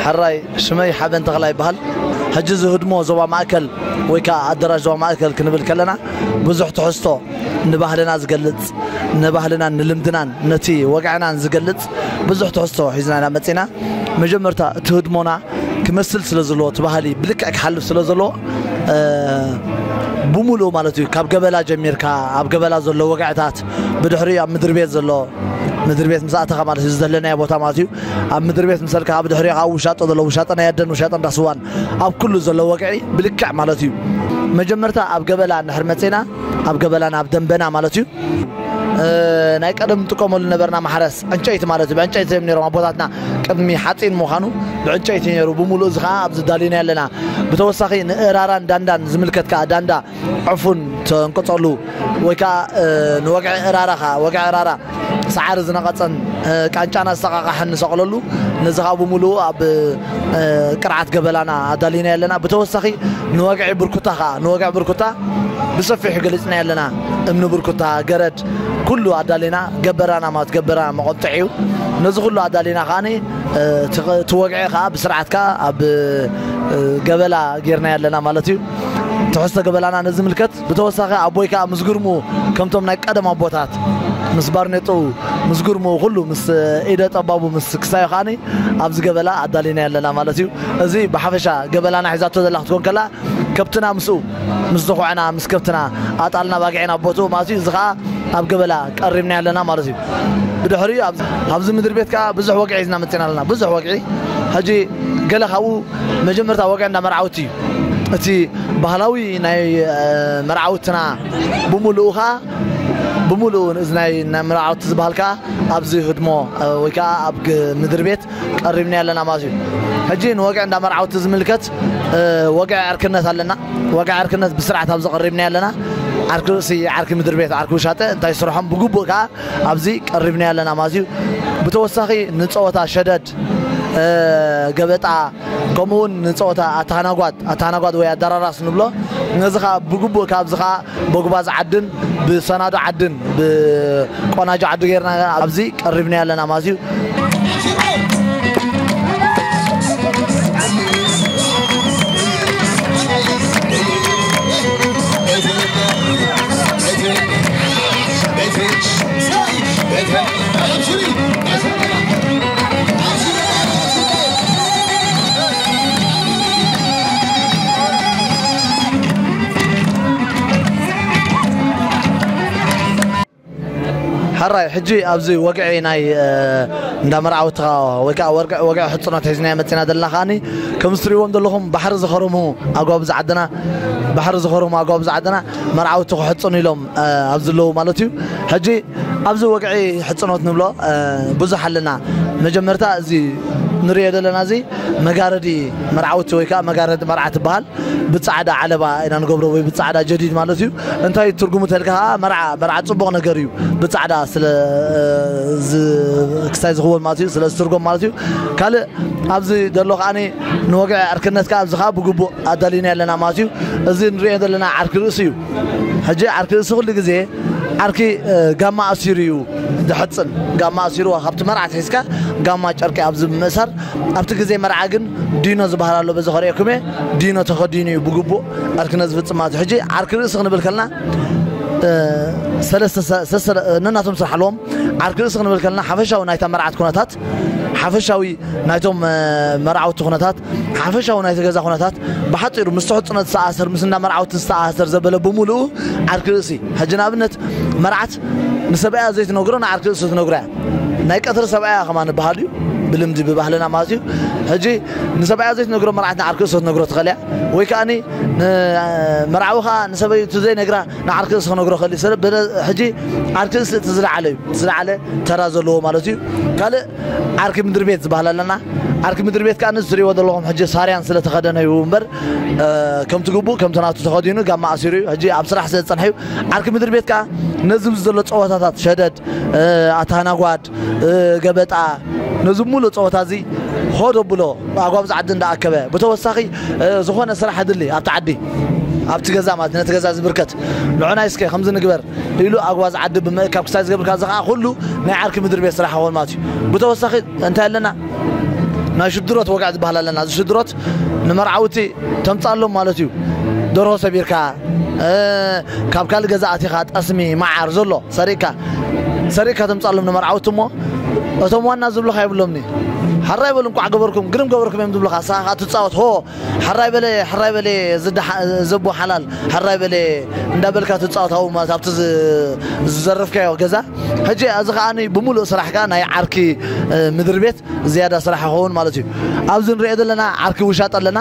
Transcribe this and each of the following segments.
ሕራይ ሽመይ ሓበን ተኽላ ይበሃል ሕጂ እዚ ህድሞ ዞባ ማእከል ወይ ከዓ ኣደራሽ ዞባ ማእከል ክንብል ከለና ብዙሕ ትሕዝቶ ንባህልና ዝገልጽ ንባህልናን ንልምድናን ነቲ ወግዕናን ዝገልጽ ብዙሕ ትሕዝቶ ሒዝና ኢና መጺና መጀመርታ እቲ ህድሞና ክመስል ስለ ዘለዎ እቲ ባህሊ ብልክዕ ክሓልፍ ስለ ዘለዎ ብሙሉእ ማለት እዩ ካብ ገበላ ጀሚርካ ኣብ ገበላ ዘሎ ወግዕታት ብድሕሪ ኣብ ምድሪ ቤት ዘሎ ምድሪ ቤት ምስ ኣተኻ ማለት እዩ ዘለናዮ ቦታ ማለት እዩ ኣብ ምድሪ ቤት ምሰልካ ኣብ ድሕሪ ኣብ ውሻጦ ዘሎ ውሻጠ ናይ ኣደን ውሻጠ እንዳስዋን ኣብ ኩሉ ዘሎ ወግዒ ብልክዕ ማለት እዩ መጀመርታ ኣብ ገበላ እንድሕር መፅና ኣብ ገበላና ኣብ ደንበና ማለት እዩ ናይ ቀደም ንጥቀመሉ ነበርና ማሕረስ ዕንጨይቲ ማለት እዩ ብዕንጨይቲ እዮም ነሮም ኣቦታትና ቅድሚ ሓፂን ምዃኑ ብዕንጨይቲ ነሩ ብምሉእ እዚ ከዓ ኣብዚ ዳሊና ኣለና ብተወሳኺ ንእራራን ዳንዳን ዝምልከት ከዓ ዳንዳ ዕፉን ተንቅፀሉ ወይ ከዓ ንወግዒ እራራ ከዓ ወግዒ እራራ ሰዓሪ ዝነቐጸን ቃንጫና ዝሰቓቓሕን ንሰቕለሉ። ነዚ ከኣ ብምሉኡ ኣብ ቅርዓት ገበላና ኣዳሊናዮ ኣለና። ብተወሳኺ ንወግዒ ብርኩታ ከኣ ንወግዒ ብርኩታ ብሰፊሑ ገሊጽናዮ ኣለና። እምኒ ብርኩታ፣ ገረድ ኩሉ ኣዳሊና ገበራና ማለት ገበራ መቖጥዒ እዩ። ነዚ ኩሉ ኣዳሊና ከኣ እቲ ወግዒ ከኣ ብስርዓት ከኣ ኣብ ገበላ ጌርናዮ ኣለና ማለት እዩ። ትሕዝቶ ገበላና ነዚ ይምልከት። ብተወሳኺ ኣቦይ ከኣ ምስ ግርምኡ ከምቶም ናይ ቀደም ኣቦታት ምስ ባርኔጦኡ ምስ ግርምኡ ኩሉ ምስ ኢደ ጠባቡ ምስ ክሳዮ ከኣኒ ኣብዚ ገበላ ኣዳሊና ኣለና ማለት እዩ እዚ ብሓፈሻ ገበላና ሒዛቶ ዘላ ክትኮን ከላ ከብትና ምስኡ ምስ ዝኹዕና ምስ ከብትና ኣጣልና ባግዒን ኣብ ቦትኡ ማለት እዩ እዚ ከኣ ኣብ ገበላ ቀሪብና ኣለና ማለት እዩ ብድሕሪኡ ኣብዚ ምድሪ ቤት ከኣ ብዙሕ ወግዒ ሒዝና መጺና ኣለና ብዙሕ ወግዒ ሕጂ ገለ ካብኡ መጀመርታ ወግዒ እንዳ መርዓውቲ እዩ። እቲ ባህላዊ ናይ መርዓውትና ብምሉኡ ከኣ ብምሉኡ እዚ ናይ ናይ መርዓውቲ ዝበሃል ከኣ ኣብዚ ህድሞ ወይ ከኣ ኣብ ምድሪ ቤት ቀሪብናዮ ኣለና ማለት እዩ። ሕጂ ንወግዒ እንዳ መርዓውቲ ዝምልከት ወግዒ ዕርክነት ኣለና። ወግዒ ዕርክነት ብስርዓት ኣብዚ ቀሪብናዮ ኣለና። ዓርኪ ርእሲ፣ ዓርኪ ምድሪ ቤት፣ ዓርኪ ውሻጠ እንታይ ስርሖም ብግቡእ ከኣ ኣብዚ ቀሪብናዮ ኣለና ማለት እዩ። ብተወሳኺ ንጸወታ ሸደድ ጸወት ገበጣ ከምኡ ውን ንጸወታ ኣተሃናጓት ኣተሃናጓት ወይ ኣደራራስ ንብሎ ነዚ ከኣ ብግቡእ ካብዚ ከኣ በጉባዝ ዓድን ብሰናዶ ዓድን ብቆናጆ ዓዲ ጌርና ኣብዚ ቀሪብናዮ ኣለና ማለት እዩ Bitch. ሕራይ ሕጂ ኣብዚ ወግዒ ናይ እንዳ መርዓውትኻ ወይ ከዓ ወግዒ ሕፅኖት ሒዝናዮ መፂና ዘለና ከዓኒ ከምዚ ትሪእዎም ዘለኹም ባሕሪ ዝኸርሙ ኣጓብዝ ዓድና ባሕሪ ዝኸርሙ ኣጓብዝ ዓድና መርዓውቲ ክሕፅኑ ኢሎም ኣብዝለዉ ማለት እዩ ሕጂ ኣብዚ ወግዒ ሕጽኖት ንብሎ ብዙሕ ኣለና መጀመርታ እዚ ንሪኦ ዘለና እዚ መጋረዲ መርዓውቲ ወይ ከዓ መጋረዲ መርዓ ትበሃል ብፃዕዳ ዓለባ ኢና ንገብሮ ወይ ብፃዕዳ ጀዲድ ማለት እዩ እንታይ እዩ ትርጉሙ ተልካ ከዓ መርዓ መርዓ ፅቡቕ ነገር እዩ ብፃዕዳ ስለ ክሳይ ዝኽወል ማለት እዩ ስለ ዝትርጎም ማለት እዩ ካልእ ኣብዚ ዘሎ ከዓ ንወግዒ ዕርክነት ከዓ ኣብዚ ከዓ ብግቡእ ኣዳሊና ኣለና ማለት እዩ እዚ ንሪኦ ዘለና ዓርኪ ርእሲ እዩ ሕጂ ዓርኪ ርእሲ ኩሉ ግዜ ዓርኪ ጋማ ኣሲሩ እዩ ዝሕጽን ጋማ ኣሲርዋ ካብቲ መርዓ ኣትሒዝካ ጋማ ጨርቂ ኣብዚ ብምእሳር ኣብቲ ግዜ መርዓ ግን ዲኖ ዝበሃል ኣሎ በዚ ከርእየኩም እየ ዲኖ ተኸዲኑ እዩ ብግቡእ ዓርኪ ነዚ ዝፍጽም ማለት እዩ ሕጂ ዓርኪ ርእሲ ክንብል ከለና ሰለስተ ነናቶም ስራሕ ኣለዎም ዓርኪ ርእሲ ክንብል ከለና ሓፈሻዊ ናይታ መርዓት ኩነታት ሓፈሻዊ ናይቶም መርዓውቲ ኩነታት ሓፈሻዊ ናይቲ ገዛ ኩነታት ብሓፂሩ ምስ ሕፁነት ዝተኣሰር ምስ እንዳ መርዓውቲ ዝተኣሰር ዘበለ ብምልኡ ዓርኪ ርእሲ ሕጂ ንኣብነት መርዓት ንሰብኣያ ዘይትነግሮ ንዓርኪ ርእሲ ትነግሮ እያ ናይ ቀትሪ ሰብኣያ ከማ ንበሃል እዩ ብልምዲ ብባህልና ማለት እዩ ሕጂ ንሰብኣያ ዘይትነግሮ መርዓት ንዓርኪ ርእሲ ትነግሮ ትኽእል እያ ወይ ከዓኒ መርዓዊ ከዓ ንሰበይቱ ዘይነግራ ንዓርኪ እንስ ክነግሮ ክእል ሰለ በለ ሕጂ ዓርኪ እንስ እቲ ዝለዓለ እዩ እቲ ዝለዓለ ተራ ዘለዎ ማለት እዩ ካልእ ዓርኪ ምድሪ ቤት ዝበሃል ኣለና ዓርኪ ምድሪ ቤት ከዓ ንስ ዝሪእዎ ዘለኹም ሕጂ ሳርያን ስለ ተኸደነ እዩ እምበር ከምቲ ግቡእ ከምቲ ናቱ ተኸዲኑ ጋማ ኣሲሩ እዩ ሕጂ ኣብ ስራሕ ስለ ዝፀንሐ እዩ ዓርኪ ምድሪ ቤት ከዓ ነዚ ምስ ዘሎ ፀወታታት ሸደድ ኣታናጓድ ገበጣ ነዚ ሙሉእ ጸወታ እዚ ሆድ ኣብሎ ብኣግባብ እዚ ዓዲ እንዳኣከበ ብተወሳኺ ዝኾነ ስራሕ ድሊ ኣብቲ ዓዲ ኣብቲ ገዛ ማለት ነቲ ገዛ ዝብርከት ንዑናይ እስከ ከምዚ ንግበር ኢሉ ኣግባዝ ዓዲ ብምእካብ ክሳይ ዝገብርካ እዚ ከዓ ኩሉ ናይ ዓርኪ ምድሪ ቤት ስራሕ ይኸውን ማለት እዩ ብተወሳኺ እንታይ ኣለና ናይ ሽድሮት ወግዕ ዝበሃል ኣለና እዚ ሽድሮት ንመርዓውቲ ተምፃሎም ማለት እዩ ደርሆ ሰቢርካ ካብ ካልእ ገዛ ኣቲኻ ጠስሚ መዓር ዘሎ ሰሪቅካ ሰሪቅካ ተምጻሎም ንመርዓውቲ እሞ እቶም ዋና ዝብልኻ የብሎምኒ ሐራይ በሉ እንቋዕ ገበርኩም ግርም ገበርኩም እዮም ዝብልኻ ንስኻ ከዓ ትጻወት ሆ ሐራይ በለ ሐራይ በለ ዘቦ ሓላል ሐራይ በለ እንዳበልካ ትጻወት ኣብኡ ማለት ኣብቲ ዝዘረፍካዮ ገዛ ሕጂ እዚ ከዓ ብምሉእ ስራሕ ከዓ ናይ ዓርኪ ምድሪ ቤት ዝያዳ ስራሕ ይኸውን ማለት እዩ ኣብዚ ንሪኦ ዘለና ዓርኪ ውሻጠ ኣለና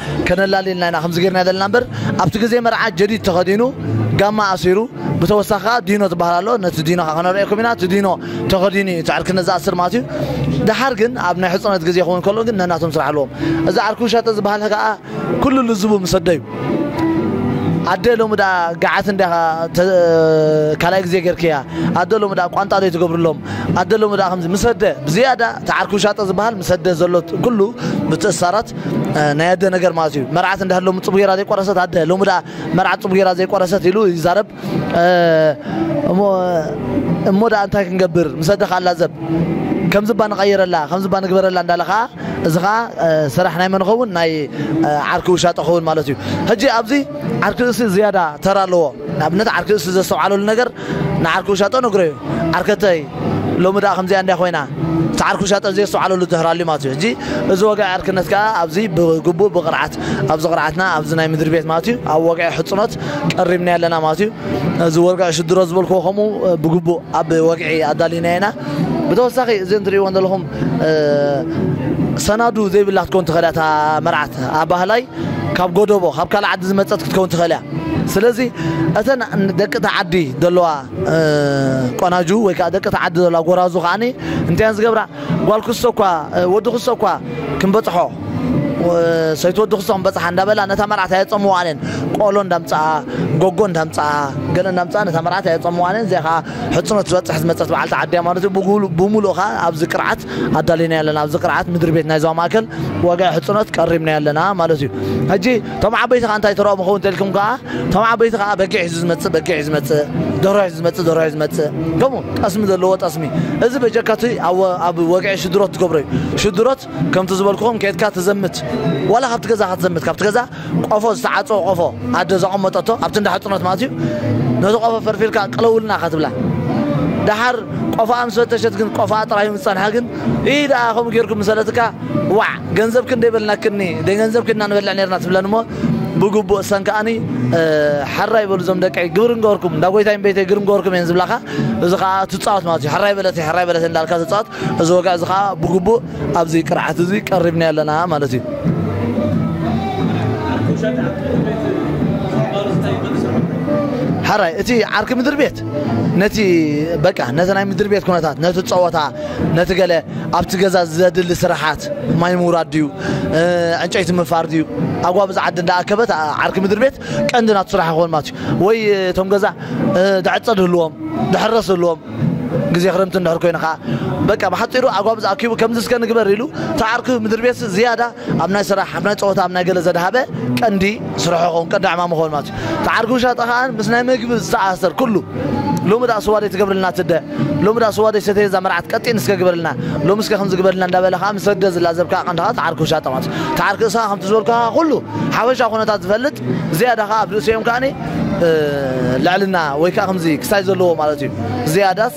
ከነላሊ ኢልና ኢና ከምዚ ጌርና ዘለና እምበር ኣብቲ ግዜ መርዓ ጀዲድ ተኸዲኑ ጋማ ኣሲሩ ብተወሳኺ ከኣ ዲኖ ዝበሃል ኣሎ ነቲ ዲኖ ከኣ ከነርእየኩም ኢና እቲ ዲኖ ተኸዲኑ እዩ እቲ ዕርክነት ዝኣስር ማለት እዩ ደሓር ግን ኣብ ናይ ሕጹነት ግዜ ክኸውን ከሎ ግን ነናቶም ስራሕ ኣለዎም እዚ ዓርኩ ሸጠ ዝበሃል ከኣ ኩሉ ልዝቡ ምስ ኣደዩ ኣደ ሎሚ ደኣ ገዓት እንዲያ ካልኣይ ግዜ ጌርክያ ኣደ ሎሚ ደኣ ቋንጣ ዶ ትገብርሎም ኣደ ሎሚ ደኣ ከምዚ ምስ ኣደ ብዝያዳ እቲ ዓርኩ ሻጠ ዝበሃል ምስ ኣደ ዘሎ ኩሉ ምትእስሳራት ናይ ኣደ ነገር ማለት እዩ መርዓት እንዳ ሎሚ ፅቡቅ ጌራ ዘይቆረሰት ኣደ ሎሚ ደኣ መርዓት ፅቡቅ ጌራ ዘይቆረሰት ኢሉ ይዛረብ እሞ እሞ ደኣ እንታይ ክንገብር ምስ ኣደ ከዓ ላዘብ ከምዚ እባ ንቀይረላ ከምዚ እባ ንግበረላ እንዳለ ከዓ እዚ ከዓ ስራሕ ናይ መን ይኸውን ናይ ዓርኪ ውሻጠ ይኸውን ማለት እዩ ሕጂ ኣብዚ ዓርኪ ርእሲ ዝያዳ ተራ ኣለዎ ንኣብነት ዓርኪ ርእሲ ዘስተውዓለሉ ነገር ንዓርኪ ውሻጦ ነግረዮ ዓርከተይ ሎሚ ድኣ ከምዚኣ እንድያ ኮይና እቲ ዓርኪ ውሻጦ ዘየስተውዓለሉ ድህር ኣልዩ ማለት እዩ ሕጂ እዚ ወግዒ ዕርክነት ከኣ ኣብዚ ብግቡእ ብቅርዓት ኣብዚ ቅርዓትና ኣብዚ ናይ ምድሪ ቤት ማለት እዩ ኣብ ወግዒ ሕጽኖት ቀሪብናዮ ኣለና ማለት እዩ እዚ ወርግዒ ሽድሮ ዝበልክዎ ከምኡ ብግቡእ ኣብ ወግዒ ኣዳሊናዮ ኢና ብተወሳኺ እዚ እንትርእይዎን ዘለኹም ሰናዱ ዘይብላ ክትከውን ትኽእል እያ እታ መርዓት ኣባህላይ ካብ ጎደቦ ካብ ካልእ ዓዲ ዝመፀት ክትከውን ትኽእል እያ ስለዚ እተን ደቂ እቲ ዓዲ ዘለዋ ቆናጁ ወይ ከዓ ደቂ እቲ ዓዲ ዘለዋ ጎራዙ ከዓ እንታይን ዝገብራ ጓል ክሶ እኳ ወዲ ክሶ እኳ ክንበፅሖ ሰይቲ ወዲ ክሶ ክንበፅሓ እንዳበላ ነታ መርዓት ኣየፀምዋን እየን ቆሎ እንዳምፅኣ ጎጎ እንዳምፅኣ ገለ እንዳምፅኣ ነታ መርዓት ኣየፀምዋን እየን እዚኣ ከዓ ሕፅኖት ዝበፅሕ ዝመፀት በዓልቲ ዓዲ እያ ማለት እዩ ብምሉእ ከዓ ኣብዚ ቅርዓት ኣዳሊና ኣለና ኣብዚ ቅርዓት ምድሪ ቤት ናይ ዞባ ማእከል ዋጋ ሕፅኖት ቀሪብና ኣለና ማለት እዩ ሕጂ እቶም ዓበይቲ ከኣ እንታይ ተረኦም ይኸውን እንተልኩም ከኣ እቶም ዓበይቲ ከኣ በጊዕ ሒዙ ዝመጽእ በጊዕ ሒዙ ዝመጽእ ደርሆ ሒዙ ዝመጽእ ደርሆ ሒዙ ዝመጽእ ከምኡ ጠስሚ ዘለዎ ጠስሚ እዚ በጀካ እቲ ኣብ ወግዒ ሽድሮት ትገብሮ እዩ ሽድሮት ከምቲ ዝበልኩኹም ኬድካ ትዘምት ዋላ ካብቲ ገዛኻ ትዘምት ካብቲ ገዛ ቆፎ ዝተዓጸወ ቆፎ ኣደ ዘቐመጠቶ ኣብቲ እንዳ ሕጽኖት ማለት እዩ ነቲ ቆፎ ፈርፊርካ ቅለውልና ኢኻ ትብላ ደሓር ቆፎኣ ምስ ፈተሸት ግን ቆፎኣ ጥራይ ምስ ጸንሐ ግን ኢ ደኣ ከምኡ ጌርኩም ምሰለትካ ዋዕ ገንዘብ ክንደይ በልናክኒ ደይ ገንዘብ ኪድና ንበልዕ ነርና ትብለን እሞ ብግቡእ እሰን ከኣኒ ሐራይ በሉ ዞም ደቀይ ግብሪ እንገበርኩም እንዳ ጎይታይ እምበይተይ ግብሪ እንገበርኩም እየን ዝብላኻ እዚ ከኣ ትጻወት ማለት እዩ ሐራይ በለተይ ሐራይ በለተይ እንዳልካ ትጻወት እዚ ወግዕ እዚ ከኣ ብግቡእ ኣብዚ ቅርዓት እዚ ቀሪብና ኣለና ማለት እዩ ሐራይ እቲ ዓርኪ ምድሪ ቤት ነቲ በቃ ነቲ ናይ ምድሪ ቤት ኩነታት ነቲ ፀወታ ነቲ ገለ ኣብቲ ገዛ ዘድሊ ስራሓት ማይ ምውራድ ድዩ ዕንጨይቲ ምፋር ድዩ ኣጓ ብዛ ዓዲ እንዳኣከበት ዓርኪ ምድሪ ቤት ቀንዲ ናቱ ስራሕ ይኸውን ማለት እዩ ወይ እቶም ገዛ ድሕር ፀድ ህልዎም ድሕር ረስ ህልዎም ግዜ ክረምቲ እንድሕር ኮይኑ ከዓ በቃ ብሓፂሩ ኣጓ ብዛ ኣኪቡ ከምዚ እስከ ንግበር ኢሉ እቲ ዓርኪ ምድሪ ቤት ዝያዳ ኣብ ናይ ስራሕ፣ ኣብ ናይ ጸወታ፣ ኣብ ናይ ገለ ዘድሃበ ቀንዲ ስርሑ ክኸውን፣ ቀንዲ ዕማሙ ክኸውን ማለት እዩ። እቲ ዓርኪ ውሻጠ ከኣ ምስ ናይ መግቢ ዝተኣሳሰር ኩሉ፣ ሎሚ ደኣ ስዋ ደይትገብርልና ትደ፣ ሎሚ ደኣ ስዋ ደይሰተየ እዛ መርዓት ቀጢን እስከ ግበርልና፣ ሎሚ እስከ ከምዚ ግበርልና እንዳበለ ከኣ ምስ ኣደ ዝላዘብ ከኣ ቀንዲ ከኣ እቲ ዓርኪ ውሻጠ ማለት እዩ። እቲ ዓርኪ እስኻ ከምቲ ዝበልኩኻ ኩሉ ሓፈሻዊ ኩነታት ዝፈልጥ፣ ዝያዳ ከኣ ኣብ ርእሲኦም ከኣ ልዕልና ወይ ከኣ ከምዚ ክሳይ ዘለዎ ማለት እዩ። ዝያዳስ።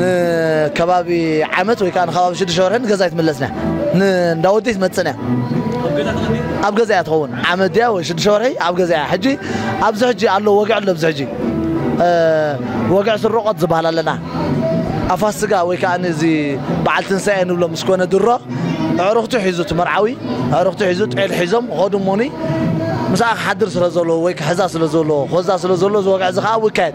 ንከባቢ ዓመት ወይ ከዓ ንከባቢ ሽዱሽተ ወርሒ ንገዛ ኣይትምለስን እያ ንእንዳ ወዲ ኣይትመፅእን እያ ኣብ ገዛ እያ ትኸውን ዓመት ድያ ወይ ሽዱሽተ ወርሒ ኣብ ገዛ እያ ሕጂ ኣብዚ ሕጂ ኣሎ ወግዒ ኣሎ ኣብዚ ሕጂ ወግዒ ስርቆት ዝበሃል ኣለና ኣብ ፋስጋ ወይ ከዓ እዚ በዓል ትንሳኤ ንብሎ ምስ ኮነ ድሮ ኣዕሩኽቱ ሒዙ እቲ መርዓዊ ኣዕሩኽቱ ሒዙ ጤል ሒዞም ኸዱ እሞኒ ምስኣ ክሓድር ስለ ዘለዎ ወይ ክሕዛ ስለ ዘለዎ ክወዛ ስለ ዘለዎ እዚ ወግዒ እዚ ከዓ ይካየድ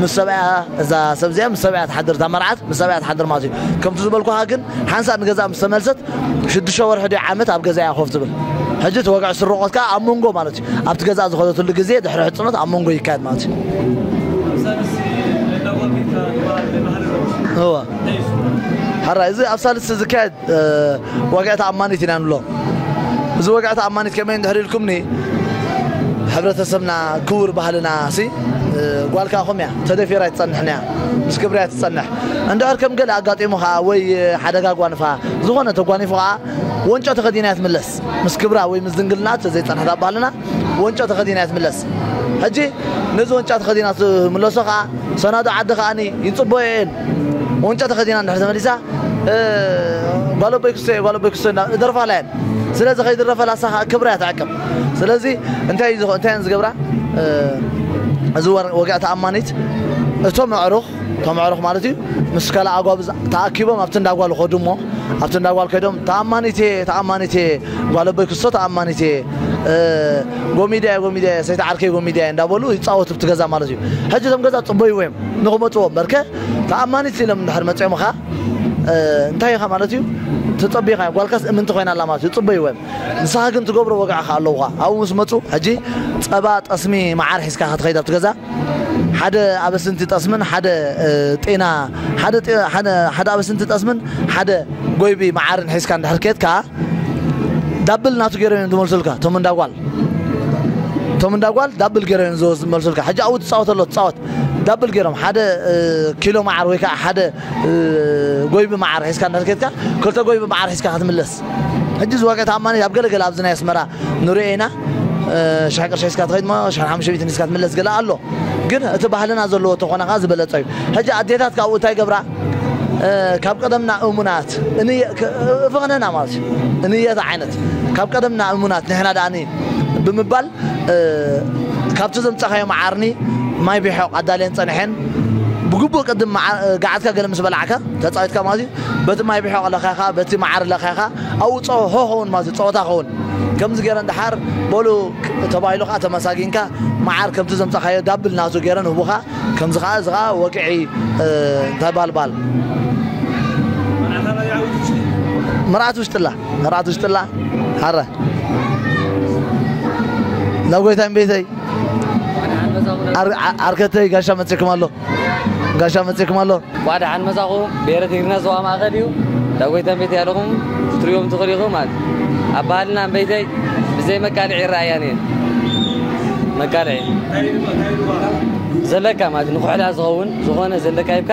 ምስ ሰብኣያ እዛ ሰብ እዚኣ ምስ ሰብኣያ ትሓድር እታ መርዓት ምስ ሰብኣያ ትሓድር ማለት እዩ ከምቲ ዝበልኩኻ ግን ሓንሳእ ንገዛኣ ምስ ተመልሰት ሽዱሽተ ወርሒ ድዩ ዓመት ኣብ ገዛኣ እያ ኮፍ ትብል ሕጂ እቲ ወግዒ ስርቆት ከዓ ኣብ መንጎ ማለት እዩ ኣብቲ ገዛኣ ዝኸደትሉ ግዜ ድሕሪ ሕፅኖት ኣብ መንጎ ይካየድ ማለት እዩ እወ ሐራይ እዚ ኣብ ሳልስቲ ዝካየድ ዋግዒ ተኣማኒት ኢና ንብሎ። እዚ ወግዒ ተኣማኒት ከመይ እንድሕር ኢልኩምኒ ሕብረተሰብና ክቡር ባህልና ሲ ጓል ከዓ ከምኡ እያ ተደፊራ ኣይትፀንሕን እያ ምስ ክብሪ እያ ትፀንሕ እንድሕር ከም ገለ ኣጋጢሙ ከዓ ወይ ሓደጋ ጓንፋ ዝኾነ ተጓኒፉ ከዓ ወንጮ ተኸዲና እያ ትምለስ ምስ ክብራ ወይ ምስ ድንግልና ተዘይፀንሕት ኣብ ባህልና ወንጮ ተኸዲና እያ ትምለስ ሕጂ ነዚ ወንጫ ተኸዲና ትምለሶ ከዓ ሰናዶ ዓዲ ከዓኒ ይፅበዮ እየን ቁንጮ ተኸዲና እንድሕር ተመሊሳ ጓል ኣቦይ ክስቶየ ጓል ኣቦይ ክስቶ እንዳ እደርፋላ እየን ስለዚ ከይድረፈላ እሳ ከዓ ክብራ እያ ትዕቅብ ስለዚ እንታይ እዩ ዝኸ- እንታይ እየን ዝገብራ እዚ ወረ- ወግዒ ተኣማኒት እቶም ኣዕሩኽ እቶም ኣዕሩኽ ማለት እዩ ምስ ካልእ ኣጓብ ዝ- ተኣኪቦም ኣብቲ እንዳ ጓል ይኸዱ እሞ ኣብቲ እንዳ ጓል ከይዶም ተኣማኒት እየ ተኣማኒት እየ ጓል ኣቦይ ክስቶ ተኣማኒት እየ እ፣ ጎሚዳ እየ ጎሚዳ እየ ሰይቲ ዓርከይ ጎሚዳ እየ እንዳበሉ ይፃወቱ ኣብቲ ገዛ ማለት እዩ ሕጂ እቶም ገዛ ፅበይዎ እዮም ንክመጽዎ እምበርከ ተኣማኒት ሲሎም እንድሕር መጺኦም እኻ እንታይ ኢኻ ማለት እዩ ተጸቢኻዮ ጓልካስ እምንቲ ኮይና ኣላ ማለት እዩ ጽበይዎ እዮም ንስኻ ግን ትገብሮ ወግዒ እኻ ኣለውኻ ኣብኡ ምስ መጹ ሕጂ ጸባ ጠስሚ መዓር ሒዝካ እኻ ትኸይድ ኣብቲ ገዛ ሓደ ኣበስንቲ ጠስምን ሓደ ጤና ሓደ ሓደ ኣበስንቲ ጠስምን ሓደ ጎይቢ መዓርን ሒዝካ እንድሕር ኬትካ ዳብል ናቱ ገይሮም እዮም ዝመልሱልካ እቶም እንዳጓል እቶም እንዳጓል ዳብል ገይሮም እዮም ዝመልሱልካ ሕጂ ኣብኡ ትጻወት ኣሎ ትጻወት ዳብል ጌሮም ሓደ ኪሎ መዓር ወይ ከኣ ሓደ ጎይቢ መዓር ሒዝካ እንድሕር ኬድካ ክልተ ጎይቢ መዓር ሒዝካ ክትምለስ ሕጂ እዚ ዋጋ ተኣማኒ ኣብ ገለ ገለ ኣብዚ ናይ ኣስመራ ንሪኦ ኢና ሽሕ ቅርሺ ሒዝካ ትኸይድ እሞ ሽሕ ሓሙሽተ ሚእቲ ሒዝካ ትምለስ ገለ ኣሎ ግን እቲ ባህልና ዘለዎ ተኾነ ከኣ ዝበለጸ እዩ ሕጂ ኣዴታት ካብኡ እንታይ ገብራ ካብ ቀደምና እሙናት እፍኽነና ማለት እዩ እንየታ ዓይነት ካብ ቀደምና እሙናት ንሕና ደኣኒ ብምባል ካብቲ ዘምጻኻዮ መዓርኒ ማይ ቢሖቕ ኣዳልየን ጸንሐን። ብግቡእ ቅድም ገዓትካ ገለ ምስ በላዕካ፣ ተጻዊትካ ማለት እዩ፣ በቲ ማይ ቢሖቕ ለኸኻ፣ በቲ መዓር ለኸኻ፣ ኣብኡ ጸ ሆ ኸውን ማለት እዩ፣ ጸወታ ኸውን። ከምዚ ገይረን ደሓር በሉ ተባሂሉ ከኣ ተመሳጊንካ መዓር ከምቲ ዘምጻኻዮ ዳብል ናቱ ገይረን ህቡኻ። ከምዚ ከኣ እዚ ከኣ ወግዒ እንታይ ባል ባል። መርዓት ውሽጥላ። ንርዓት ውሽጥላ ሓረ ናብ ጎይታይ ቤተይ ዓርከተይ ጋሻ መፅኩም ኣሎ ጋሻ መፅኩም ኣሎ እንኳዕ ደሓን መፃኹም ብሄረ ትግርና ዞባ ማእኸል እዩ እንዳ ጎይታን ቤተይ ኣለኹም ክትሪኦም ትኽእሉ ኢኹም ማለት ኣብ ባህልና እምበይተይ ብዘይ መቃልዒ ይረኣያን እየን መቃልዒ ዘለካ ማለት ንኩሕላ ዝኸውን ዝኾነ ዘለካ ይብካ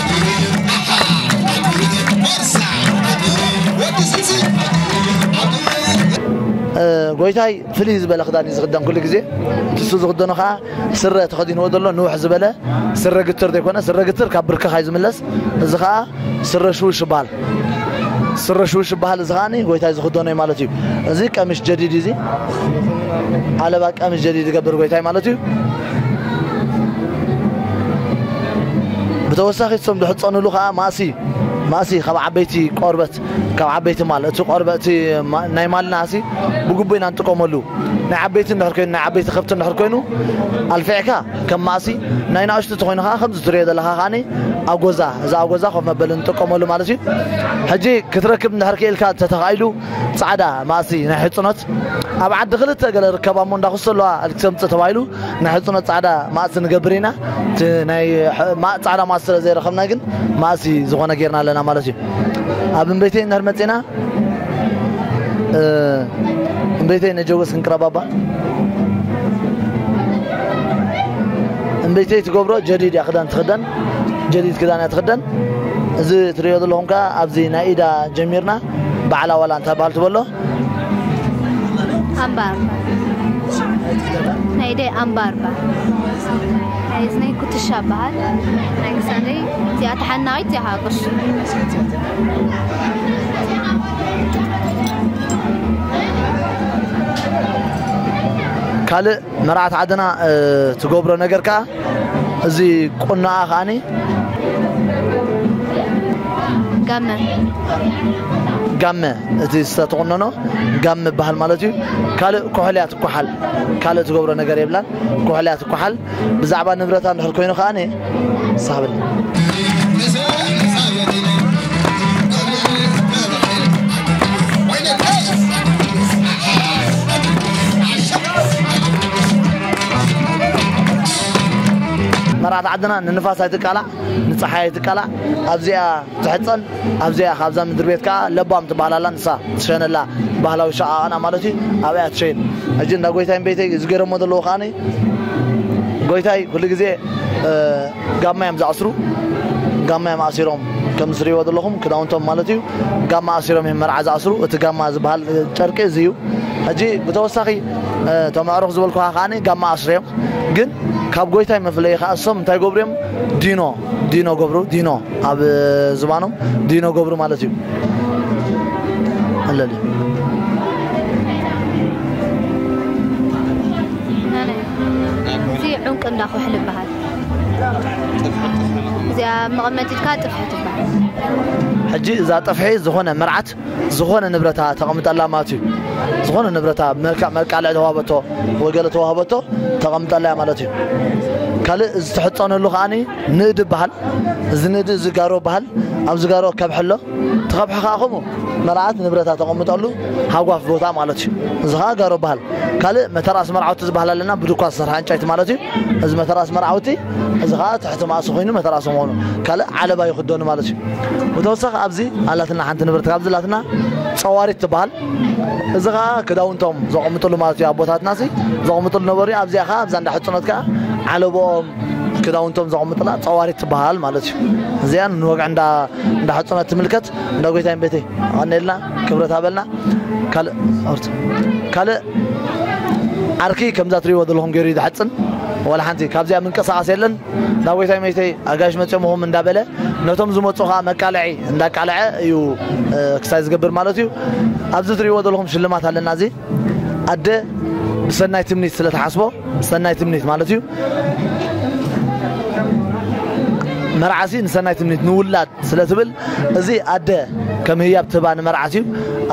ጎይታይ ፍልይ ዝበለ ክዳን እዩ ዝኽደን ኩሉ ግዜ ንሱ ዝኽደኖ ከዓ ስረ ተኸዲንዎ ዘሎ ንውሕ ዝበለ ስረ ግትር ዘይኮነ ስረ ግትር ካብ ብርክኻ እዩ ዝምለስ እዚ ከዓ ስረ ሽውሽ ይበሃል ስረ ሽውሽ ይበሃል እዚ ከዓኒ ጎይታይ ዝኽደኖ እዩ ማለት እዩ እዚ ቀሚሽ ጀዲድ እዚ ዓለባ ቀሚሽ ጀዲድ ይገብር ጎይታይ ማለት እዩ ብተወሳኺ እቶም ዝሕፀንሉ ከዓ ማእሲ ማእሲ ካብ ዓበይቲ ቆርበት ካብ ዓበይቲ ማል እቲ ቆርበት ናይ ማልና ሲ ብግቡእ ኢና ንጥቀመሉ ናይ ዓበይቲ እንድሕር ኮይኑ ናይ ዓበይቲ ከብቲ እንድሕር ኮይኑ ኣልፊዕካ ከም ማእሲ ናይ ናእሽቱ ተኾይኑ ከኣ ከምዚ ትሪኦ ዘለኻ ከኣ ኣጎዛ እዚ ኣጎዛ ኮፍ መበሊ ንጥቀመሉ ማለት እዩ ሕጂ ክትረክብ እንድሕር ክኢልካ ተተኻኢሉ ጻዕዳ ማእሲ ናይ ሕጽኖት ኣብ ዓዲ ክልተ ገለ ርከባ እሞ እንዳ ኩሶ ኣለዋ ክትምጽእ ተባሂሉ ናይ ሕጽኖት ጻዕዳ ማእሲ ንገብር ኢና እቲ ናይ ጻዕዳ ማእሲ ስለ ዘይረኸብና ግን ማእሲ ዝኾነ ጌርና ኣለና ማለት እዩ ኣብ ቤተይ እንድሕር መጺና እምበይተይ ነጀወስ ክንቅረባባ እምበይተይ ትገብሮ ጀዲድ እያ ክዳን ትኽደን ጀዲድ ክዳን እያ ትኽደን እዚ ትሪኦ ዘለኹም ከዓ ኣብዚ ናይ ኢዳ ጀሚርና ባዕላ ዋላ እንታይ በሃል ትበሎ ኣምባር ናይ ኢደይ ኣምባር በሃል ናይ እዝነይ ኩትሻ በሃል ናይ ክሳደይ እቲኣ ተሓናቂት እያ ቅርሺ ካልእ መርዓት ዓድና ትገብሮ ነገር ከዓ እዚ ቁናኣ ከዓኒ ጋመ ጋመ እቲ ዝተተቆነኖ ጋመ ይበሃል ማለት እዩ ካልእ ኮሕልያ ትኳሓል ካልእ ትገብሮ ነገር የብላን ኮሕልያ ትኳሓል ብዛዕባ ንብረታ እንድሕር ኮይኑ ከኣ መርዓት ዓድና ንንፋስ ኣይትቃላዕ ንፀሓይ ኣይትቃላዕ ኣብዚኣ ትሕጸን ኣብዚኣ ካብዛ ምድርቤት ከኣ ለባም ትበሃል ኣላ ንሳ ትሸነላ ባህላዊ ሸቃቅና ማለት እዩ ኣብኣ እያ ትሸይን ሕጂ እንዳ ጎይታይን ቤተይ እዚ ገይረሞ ዘለዎ ከኣ ጎይታይ ኩሉ ግዜ ጋማ እዮም ዝኣስሩ ጋማ እዮም ኣሲሮም ከም ዝትርእይዎ ዘለኹም ክዳውንቶም ማለት እዩ ጋማ ኣሲሮም እዮም መርዓ ዝኣስሩ እቲ ጋማ ዝበሃል ጨርቂ እዚ እዩ ሕጂ ብተወሳኺ እቶም ኣዕሩኽ ዝበልኩኻ ከዓኒ ጋማ ኣስርዮም ግን ካብ ጎይታይ መፍለዪ ከኣ እሶም እንታይ ገብሩ እዮም ዲኖ ዲኖ ገብሩ ዲኖ ኣብ ዝባኖም ዲኖ ገብሩ ማለት እዩ ኣለል እዚ ዑንቂ እንዳ ኩሕል ይበሃል እዚኣ መቐመጢትካ ጥፍሒ ትበሃል ሕጂ እዛ ጥፍሒ ዝኾነ መርዓት ዝኾነ ንብረታ ተቐምጠላ ማለት እዩ ዝኾነ ንብረታ መልክዕ መልቃልዕ ተዋህበቶ ወይ ገለ ተዋህበቶ ተቐምጠላ እያ ማለት እዩ ካልእ ዝተሕፀነሉ ከዓ ንእድ ይበሃል እዚ ንእድ እዚ ጋሮ ይበሃል ኣብ ዝጋሮ ከብሒ ኣሎ እቲ ከብሒ ከዓ ከምኡ መርዓት ንብረታ ተቐምጠሉ ሃጓፍ ቦታ ማለት እዩ እዚ ከዓ ጋሮ ይበሃል ካልእ መተርኣስ መርዓውቲ ዝበሃል ኣለና ብድኳ ዝሰርሐ ዕንጨይቲ ማለት እዩ እዚ መተርኣስ መርዓውቲ እዚ ከኣ ትሕቲ ማእሲ ኮይኑ መተራ ሰሞኑ ካልእ ዓለባ ይኽደኑ ማለት እዩ። ብተወሳኺ ኣብዚ ኣላትና ሓንቲ ንብረት ካብዚ ኣላትና ጸዋሪት ትበሃል። እዚ ከኣ ክዳውንቶም ዘቐምጥሉ ማለት እዩ ኣቦታትናሲ ዘቐምጥሉ ነበሩ እዩ። ኣብዚኣ ከኣ ኣብዛ እንዳ ሕጽኖት ከኣ ዓለቦኦም ክዳውንቶም ዘቐምጥላ ጸዋሪት ትበሃል ማለት እዩ። እዚኣ ንወግዒ እንዳ እንዳ ሕጽኖት ትምልከት። እንዳ ጎይታይን ቤተይ ኣቐንየልና። ክብረት ሃበልና ካልእ ኣውርት ካልእ ዓርኪ ከምዛ ትሪእዎ ዘለኹም ገይሩ ዝሓፅን ዋላ ሓንቲ ካብዚኣ ምንቀሳቐስ የለን ናብ ወይታይ መይተይ ኣጋይሽ መፅኦምኹም እንዳበለ ነቶም ዝመፁ ከዓ መቃለዒ እንዳቃለዐ እዩ ክሳይ ዝገብር ማለት እዩ ኣብዚ ትሪእዎ ዘለኹም ሽልማት ኣለና እዚ ኣደ ብሰናይ ትምኒት ስለተሓስቦ ሰናይ ትምኒት ማለት እዩ መርዓሲ ንሰናይ ትምኒት ንውላድ ስለ ትብል እዚ ኣደ ከም ህያብ ትህባ ንመርዓት እዩ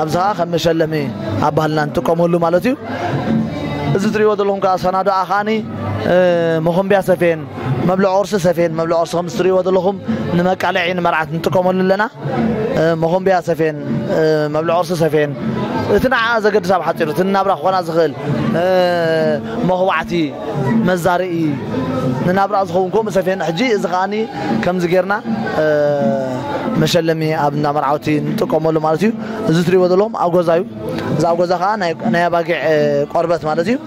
ኣብዚ ከዓ ከም መሸለሚ ኣብ ባህልና ንጥቀመሉ ማለት እዩ እዚ ትሪእዎ ዘለኹም ከዓ ሰናዶኣ ከዓኒ መኾምቢያ ሰፌን መብልዕ ቁርሲ ሰፌን መብልዕ ቁርሲ ከም ዝትሪእዎ ዘለኹም ንመቃለዒ ንመርዓት ንጥቀመሉ ኣለና መኾምቢያ ሰፌን መብልዕ ቁርሲ ሰፌን እቲ ንዓኣ ዘገድስ ኣብ ሓፂሩ እቲ ናብራ ክኾና ዝኽእል መኹባዕቲ መዛርኢ ንናብራኣ ዝኸውን ከምኡ ሰፊሔና ሕጂ እዚ ከኣ ከምዚ ጌርና መሸለሚ ኣብ እንዳ መርዓውቲ ንጥቀመሉ ማለት እዩ እዚ ትሪእዎ ዘለኹም ኣጎዛ እዩ እዚ ኣጎዛ ከዓ ናይ ኣባጊዕ ቆርበት ማለት እዩ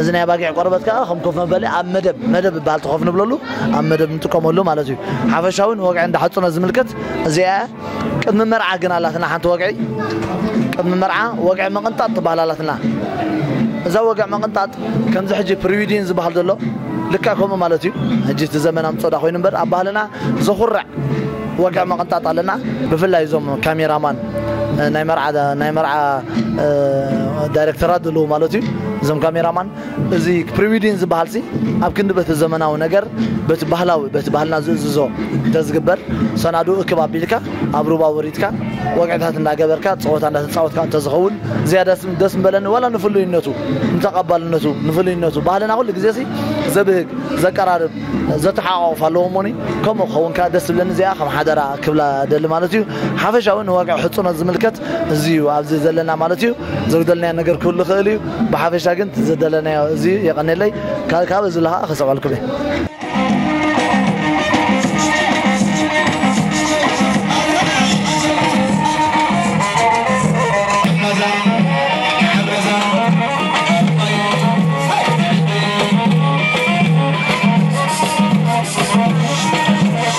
እዚ ናይ ኣባጊዕ ቆርበት ከዓ ከም ኮፍ መበሊ ኣብ መደብ መደብ ይበሃል ኮፍ ንብለሉ ኣብ መደብ ንጥቀመሉ ማለት እዩ ሓፈሻዊ ንወግዒ እንዳሓፁነ ዝምልከት እዚኣ ቅድሚ መርዓ ግን ኣላትና ሓንቲ ወግዒ ቅድሚ መርዓ ወግዒ መቕንጣጥ ትበሃል ኣላትና እዛ ወግዒ መቕንጣጥ ከምዚ ሕጂ ፕሪዊዲን ዝበሃል ዘሎ ልክዕ ከምኡ ማለት እዩ ሕጂ እቲ ዘመን ኣምጾዳ ኮይኑ እምበር ኣብ ባህልና ዘኹርዕ ወግዒ መቕንጣጥ ኣለና ብፍላይ እዞም ካሜራማን ናይ መርዓ ናይ መርዓ ዳይሬክተራት ዘለዉ ማለት እዩ እዞም ካሜራማን እዚ ፕሪዊዲን ዝበሃልሲ ኣብ ክንዲ በቲ ዘመናዊ ነገር በቲ ባህላዊ በቲ ባህልና ዝእዝዞ እንተዝግበር ሰናዱ እክብ ኣቢልካ ኣብ ሩባ ወሪድካ ወግዕታት እንዳገበርካ ፀወታ እንዳተፃወትካ እንተዝኸውን ዝያዳ ደስ ምበለኒ ዋላ ንፍሉይነቱ ንተቐባልነቱ ንፍሉይነቱ ባህልና ኩሉ ግዜሲ ዘብህግ ዘቀራርብ ዘተሓቋቑፍ ኣለዎ እሞኒ ከምኡ ክኸውን ከዓ ደስ ዝብለኒ እዚኣ ከም ሓደራ ክብላ ደሊ ማለት እዩ ሓፈሻዊ ንወግዒ ሕፁኖት ዝምልከት እዚ እዩ ኣብዚ ዘለና ማለት እዩ ዘጉደልናዮ ነገር ክህሉ ይኽእል እዩ ብሓፈሻ ግን ዘደለናዮ እዚ እዩ የቐኔለይ ካብ እዚ ለሃ ክሰብዐልኩም እየ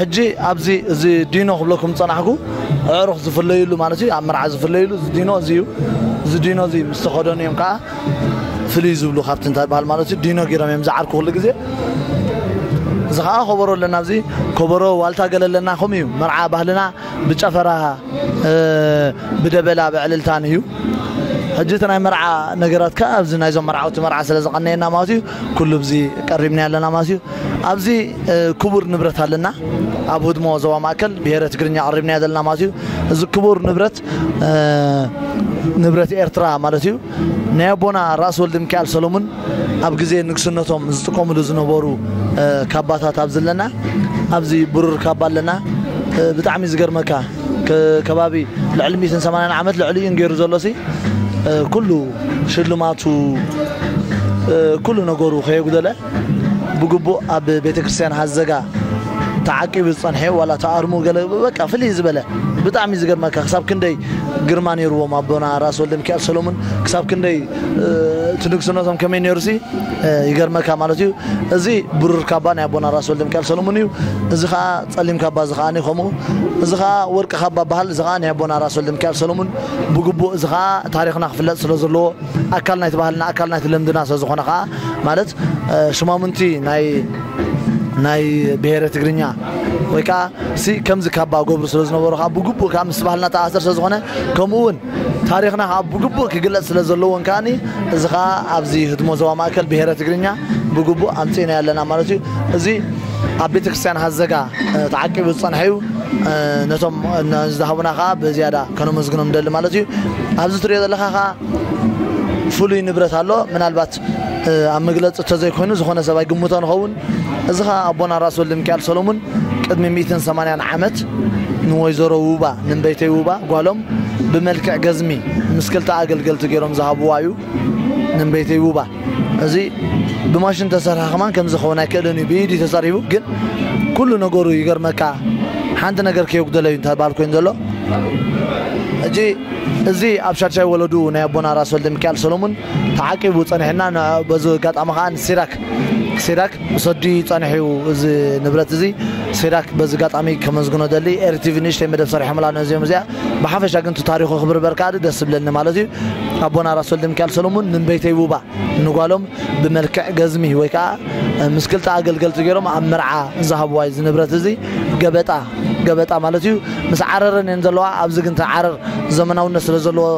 ሕጂ ኣብዚ እዚ ዲኖ ክብለኩም ዝጸናሕኩ ኣዕሩኽ ዝፍለዩሉ ማለት እዩ ኣብ መርዓ ዝፍለዩሉ እዚ ዲኖ እዚ እዩ እዚ ዲኖ እዚ ምስ ተኸደኑ እዮም ከዓ ፍልይ ዝብሉ ካብቲ እንታይ በሃል ማለት እዩ ዲኖ ገይሮም እዮም ዝዓርኩ ኩሉ ግዜ እዚ ከዓ ኮበሮ ኣለና ኣብዚ ኮበሮ ዋልታ ገለ ኣለና ከምኡ እዩ መርዓ ባህልና ብጨፈራ ብደበላ ብዕልልታን እዩ ሕጂ እቲ ናይ መርዓ ነገራት ከ ኣብዚ ናይዞም መርዓውቲ መርዓ ስለ ዝቐነየና ማለት እዩ ኩሉ ብዚ ቀሪብና ኣለና ማለት እዩ ኣብዚ ክቡር ንብረት ኣለና ኣብ ህድሞ ዞባ ማእከል ብሄረ ትግርኛ ቀሪብና ዘለና ማለት እዩ እዚ ክቡር ንብረት ንብረት ኤርትራ ማለት እዩ ናይ ኣቦና ራስ ወልደሚካኤል ሰሎሙን ኣብ ግዜ ንግስነቶም ዝጥቀምሉ ዝነበሩ ካባታት ኣብዚ ኣለና ኣብዚ ብሩር ካባ ኣለና ብጣዕሚ ዝገርመካ ከባቢ ልዕሊ 180 ዓመት ልዕሊ እዩ ገይሩ ዘሎሲ ኩሉ ሽልማቱ ኩሉ ነገሩ ከየጉደለ ብግቡእ ኣብ ቤተ ክርስቲያን ሃዘጋ ተዓቂቡ ዝጸንሐ ዋላ ተኣርሙ ገለ በቃ ፍልይ ዝበለ ብጣዕሚ ዝገርመካ ክሳብ ክንደይ ግርማ ነይርዎም ኣቦና ራስ ወልደ ሚካኤል ሰሎሙን ክሳብ ክንደይ እቲ ንግስነቶም ከመይ ነይሩሲ ይገርመካ ማለት እዩ እዚ ብሩር ካባ ናይ ኣቦና ራስ ወልደ ሚካኤል ሰሎሙን እዩ እዚ ከዓ ጸሊም ካባ እዚ ከዓ ከምኡ እዚ ከዓ ወርቂ ካባ በሃል እዚ ከዓ ናይ ኣቦና ራስ ወልደ ሚካኤል ሰሎሙን ብግቡእ እዚ ከዓ ታሪክና ክፍለጥ ስለ ዘለዎ ኣካል ናይቲ ባህልና ኣካል ናይቲ ልምድና ስለዝኾነ ከኣ ማለት ሽማሙንቲ ናይ ናይ ብሄረ ትግርኛ ወይ ከዓ ሲ ከምዚ ካባ ገብሩ ስለ ዝነበሩ ከዓ ብግቡእ ከዓ ምስ ባህልና ተኣሰር ስለ ዝኾነ ከምኡ እውን ታሪክና ከዓ ብግቡእ ክግለፅ ስለ ዘለዎን ከዓኒ እዚ ከዓ ኣብዚ ህድሞ ዞባ ማእከል ብሄረ ትግርኛ ብግቡእ ኣምፂእና ኣለና ማለት እዩ እዚ ኣብ ቤተክርስትያን ሃዘጋ ተዓቂቡ ዝጸንሐ እዩ። ነቶም ንዝሃቡና ከኣ ብዝያዳ ከነመስግኖም ንደሊ ማለት እዩ። ኣብዚ ትርእዮ ዘለካ ከኣ ፍሉይ ንብረት ኣሎ። ምናልባት ኣብ መግለጺ እተዘይኮይኑ ዝኾነ ሰብ ኣይግምቶን ይኸውን። እዚ ከኣ ኣቦና ራስ ወልደሚካኤል ሰለሙን ቅድሚ ሚእትን ሰማንያን ዓመት ንወይዘሮ ውባ ንእምበይተይ ውባ ጓሎም ብመልክዕ ገዝሚ ምስ ክልተ ኣገልገልቲ ገይሮም ዝሃብዋ እዩ። ንእምበይተይ ውባ። እዚ ብማሽን ተሰርሐ ከማን ከምዚ ክኸውን ኣይክእልን እዩ ብኢድ እዩ ተጸሪቡ ግን ኩሉ ነገሩ ይገርመካ ሓንቲ ነገር ከየጉደለ እዩ እንታይ በሃል ኮይኑ ዘሎ ሕጂ እዚ ኣብ ሻድሻይ ወለዱ ናይ ኣቦና ራስ ወልደ ሚካኤል ሰሎሙን ተዓቂቡ ጸኒሕና በዚ ኣጋጣሚ ከዓ ንሲራክ ሲራክ ሰዲ ጸኒሑ እዚ ንብረት እዚ ሲራክ በዚ ኣጋጣሚ ከመስግኖ ደሊ ኤርቲቪ ንእሽተይ መደብ ሰሪሖምላ ነዚኦም እዚኣ ብሓፈሻ ግን እቲ ታሪኹ ክብርበር ከኣ ደስ ዝብለኒ ማለት እዩ ኣቦና ራስ ወልደሚካኤል ሰሎሙን ንበይተይ ውባ ንጓሎም ብመልክዕ ገዝሚ ወይ ከኣ ምስ ክልተ ኣገልገልቲ ገይሮም ኣብ መርዓ ዝሃብዋ እዚ ንብረት እዚ ገበጣ ገበጣ ማለት እዩ ምስ ዓረረን እየን ዘለዋ ኣብዚ ግን እቲ ዓረር ዘመናውነት ስለ ዘለዎ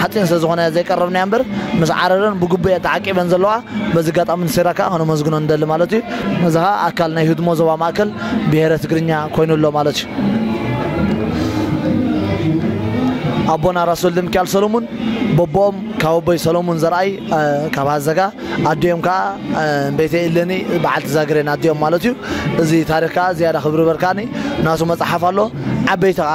ሓፂን ስለዝኾነ ዘይቀረብናዮ እምበር ምስ ዓረረን ብግቡእ እየን ተዓቂበን ዘለዋ። በዚ ኣጋጣሚ ንሴራ ከዓ ከነመስግኖ ንደሊ ማለት እዩ። እዚ ከዓ ኣካል ናይ ህድሞ ዞባ ማእከል ብሄረ ትግርኛ ኮይኑ ኣሎ ማለት እዩ። ኣቦና ራስ ወልደሚካኤል ሰለሙን በቦኦም ካብ ኣቦይ ሰለሙን ዘርኣይ ካብ ሃዘጋ ኣዲኦም ከዓ ቤተ ኢለኒ በዓልቲ ዛግሬን ኣዲኦም ማለት እዩ። እዚ ታሪኽ ከዓ ዝያዳ ክብርበር ከዓኒ ናቱ መፅሓፍ ኣሎ ዓበይቲ ከዓ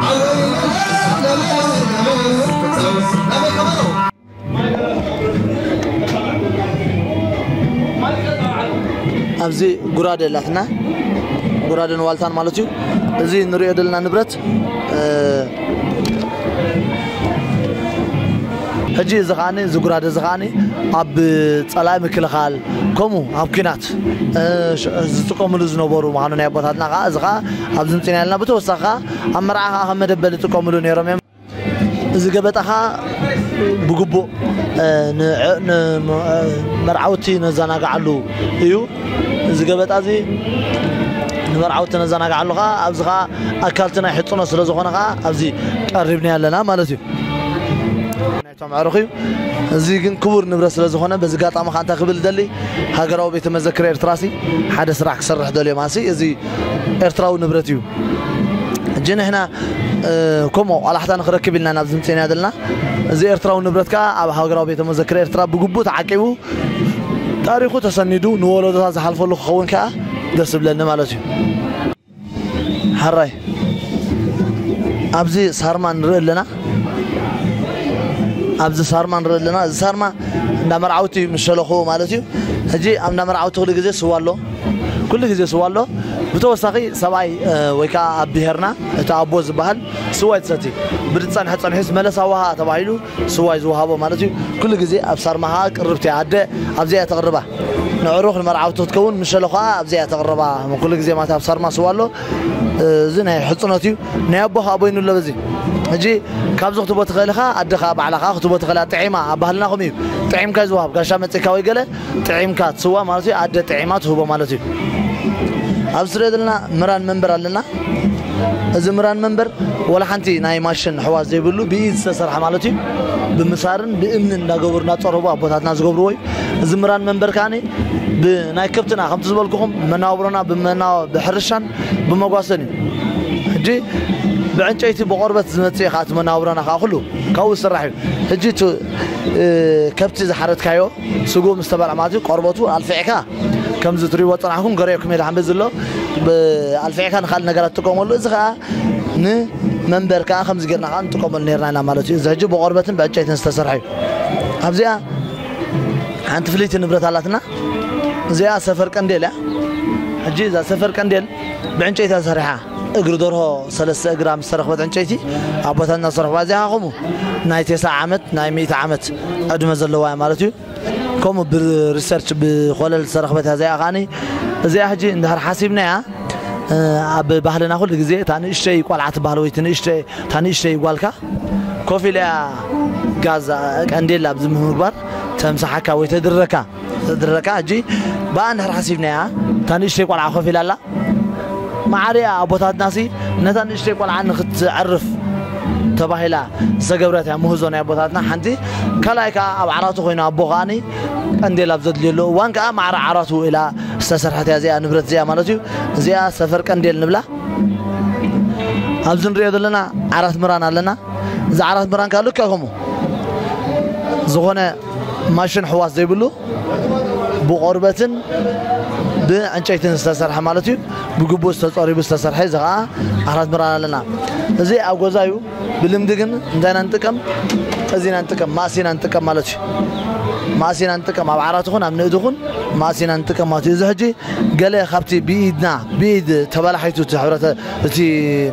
ኣብዚ ጉራደ ኣላትና ጉራደን ዋልታን ማለት እዩ እዚ ንሪኦ ዘለና ንብረት ሕጂ እዚ ከዓኒ እዚ ጉራደ እዚ ከዓኒ ኣብ ፀላኢ ምክልኻል ከምኡ ኣብ ኩናት ዝጥቀምሉ ዝነበሩ ምዃኑ ናይ ኣቦታትና ከዓ እዚ ከዓ ኣብዚ ምፅና ኣለና ብተወሳኺ ከዓ ኣብ መርዓ ከኣ ከም መደበል ይጥቀምሉ ነይሮም እዮም። እዚ ገበጣ ከኣ ብግቡእ ንመርዓውቲ ነዘናግዓሉ እዩ። እዚ ገበጣ እዚ ንመርዓውቲ ነዘናግዓሉ ከኣ ኣብዚ ከኣ ኣካልቲ ናይ ሕጽኖት ስለ ዝኾነ ከኣ ኣብዚ ቀሪብናዮ ኣለና ማለት እዩ። መዕርኹ እዩ እዚ ግን ክቡር ንብረት ስለ ዝኾነ በዚ ጋጣሚ ከ እንታይ ክብል ደሊ ሃገራዊ ቤተ መዘክር ኤርትራ ሲ ሓደ ስራሕ ክሰርሕ ደልዮም ኣሲ እዚ ኤርትራዊ ንብረት እዩ እጂ ንሕና ከምኡ ኣላሕታ ንክረክብ ኢልና ናብ ዝምፅና ዘለና እዚ ኤርትራዊ ንብረት ከዓ ኣብ ሃገራዊ ቤተ መዘክር ኤርትራ ብግቡእ ተዓቂቡ ታሪኹ ተሰኒዱ ንወለዶታት ዝሓልፈሉ ክኸውን ከዓ ደስ ብለኒ ማለት እዩ ሐራይ ኣብዚ ሳርማ ንርኢ ኣለና ኣብዚ ሳርማ ንርኢ ኣለና እዚ ሳርማ እንዳ መርዓውቲ ምስ ሸለኹ ማለት እዩ ሕጂ ኣብ እንዳ መርዓውቲ ኩሉ ግዜ ስዋ ኣሎ ኩሉ ግዜ ስዋ ኣሎ ብተወሳኺ ሰብኣይ እ፣ ወይ ከዓ ኣብ ብሄርና እቲ ኣቦ ዝበሃል ስዋ ይትሰቲ ብዝፀንሐ ፀንሒስ መለስ ኣዋሃ ተባሂሉ ስዋይ ዝውሃቦ ማለት እዩ ኩሉ ግዜ ኣብ ሳርማ ከኣ ቅርብቲ እያ ኣደ ኣብዚኣ እያ ተቅርባ ንዕሩኽ ንመርዓውቲ ክትከውን ምሸሎ ከኣ ኣብዚኣ እያ ተቅርባ ኩሉ ግዜ ማለት ኣብ ሳርማ ስዋ ኣሎ እዚ ናይ ሕጽኖት እዩ ናይ ኣቦ ከኣ ቦይኑ ኣሎ በዚ ሕጂ ካብዚ ክትቦ ትኽእል ኢኻ ኣደ ከኣ ባዕላ ከኣ ክትቦ ትኽእል እያ ጥዒማ ኣብ ባህልናኹም እዩ ጥዒምካ እዩ ዝውሃብ ጋሻ መጺእካ ወይ ገለ ጥዒምካ ትስዋእ ማለት እዩ ኣደ ጥዒማ ትህቦ ማለት እዩ ኣብዚ ትሪኦ ዘለና ምራን መንበር ኣለና እዚ ምራን መንበር ወላ ሓንቲ ናይ ማሽን ሕዋ ዘይብሉ ብኢድ ዝተሰርሐ ማለት እዩ ብምሳርን ብእምንን እንዳገበሩ እንዳፀረቡ ኣቦታትና ዝገብርዎ እዩ እዚ ምራን መንበር ከዓኒ ብናይ ከብትና ከምቲ ዝበልኩኹም መናብሮና ብሕርሻን ብመጓሰን እዩ ሕጂ ብዕንጨይቲ ብቆርበት ዝመፅእ እዩ ከዓ እቲ መናብሮና ከዓ ኩሉ ካብኡ ዝስራሕ እዩ ሕጂ ከብቲ ዝሓረድካዮ ስግኡ ምስ ተበልዐ ማለት እዩ ቆርበቱ ኣልፊዕካ ከምዚ ትሪእዎ ዝጸናሕኩም ገሪዕኩም ኢለ ሓምበ ዝሎ ኣልፊዕካ ንኻልእ ነገራት ትጥቀመሉ እዚ ከኣ ን መንበር ከኣ ከምዚ ጌርና ከኣ ንጥቀመሉ ኔርና ኢና ማለት እዩ እዚ ሕጂ ብቆርበትን ብዕጨይትን ዝተሰርሐ እዩ ኣብዚኣ ሓንቲ ፍልይቲ ንብረት ኣላትና እዚኣ ሰፈር ቀንዴል እያ ሕጂ እዛ ሰፈር ቀንዴል ብዕንጨይቲ ተሰሪሓ እግሪ ደርሆ ሰለስተ እግራ ምስ ተረኽበት ዕንጨይቲ ኣቦታትና ዝሰርሕዋ እዚኣ ከምኡ ናይ ቴስዓ ዓመት ናይ ሚእቲ ዓመት ዕድመ ዘለዋ እያ ማለት እዩ ከምኡ ብሪሰርች ብኮለል ዝተረኽበት እያ እዚኣ ከዓኒ እዚኣ ሕጂ እንድሕር ሓሲብናያ ኣብ ባህልና ኩሉ ግዜ እታ ንእሽተይ ቆልዓ ትበሃል ወይ ንእሽተይ እታ ንእሽተይ ጓልካ ኮፍ ኢላ እያ ጋዛ ቀንዴል ኣብዚ ምግባር ተምሳሓካ ወይ ተድረካ ዘድረካ ሕጂ ብኣ እንድሕር ሓሲብናያ እታ ንእሽተይ ቆልዓ ኮፍ ኢላ ኣላ መዓርያ ኣቦታትናሲ ነታ ንእሽተይ ቆልዓ ንክትዕርፍ ተባሂላ ዝተገብረት እያ ምህዞ ናይ ኣቦታትና ሓንቲ ካልኣይ ከዓ ኣብ ዓራቱ ኮይኑ ኣቦ ከዓኒ ቀንዴል ኣብ ዘድልየሉ እዋን ከዓ ማዕረ ዓራቱ ኢላ ዝተሰርሐት እያ እዚኣ ንብረት እዚኣ ማለት እዩ እዚኣ ሰፈር ቀንዴል ንብላ ኣብዚ ንሪኦ ዘለና ዓራት ምራን ኣለና እዚ ዓራት ምራን ከዓ ልክዕ ከምኡ ዝኾነ ማሽን ሕዋስ ዘይብሉ ብቆርበትን ብዕንጨይትን ዝተሰርሐ ማለት እዩ ብግቡእ ዝተፀሪቡ ዝተሰርሐ እዚ ከዓ ኣራት ምራን ኣለና እዚ ኣብ ገዛ እዩ ብልምዲ ግን እንታይ ኢና ንጥቀም እዚ ኢና ንጥቀም ማእሲ ኢና ንጥቀም ማለት እዩ ማእሲ ኢና ንጥቀም ኣብ ዓራት ይኹን ኣብ ንእድ ይኹን ማእሲ ኢና ንጥቀም ማለት እዩ እዚ ሕጂ ገለ ካብቲ ብኢድና ብኢድ ተበላሒቱ እቲ ሕብረተ እቲ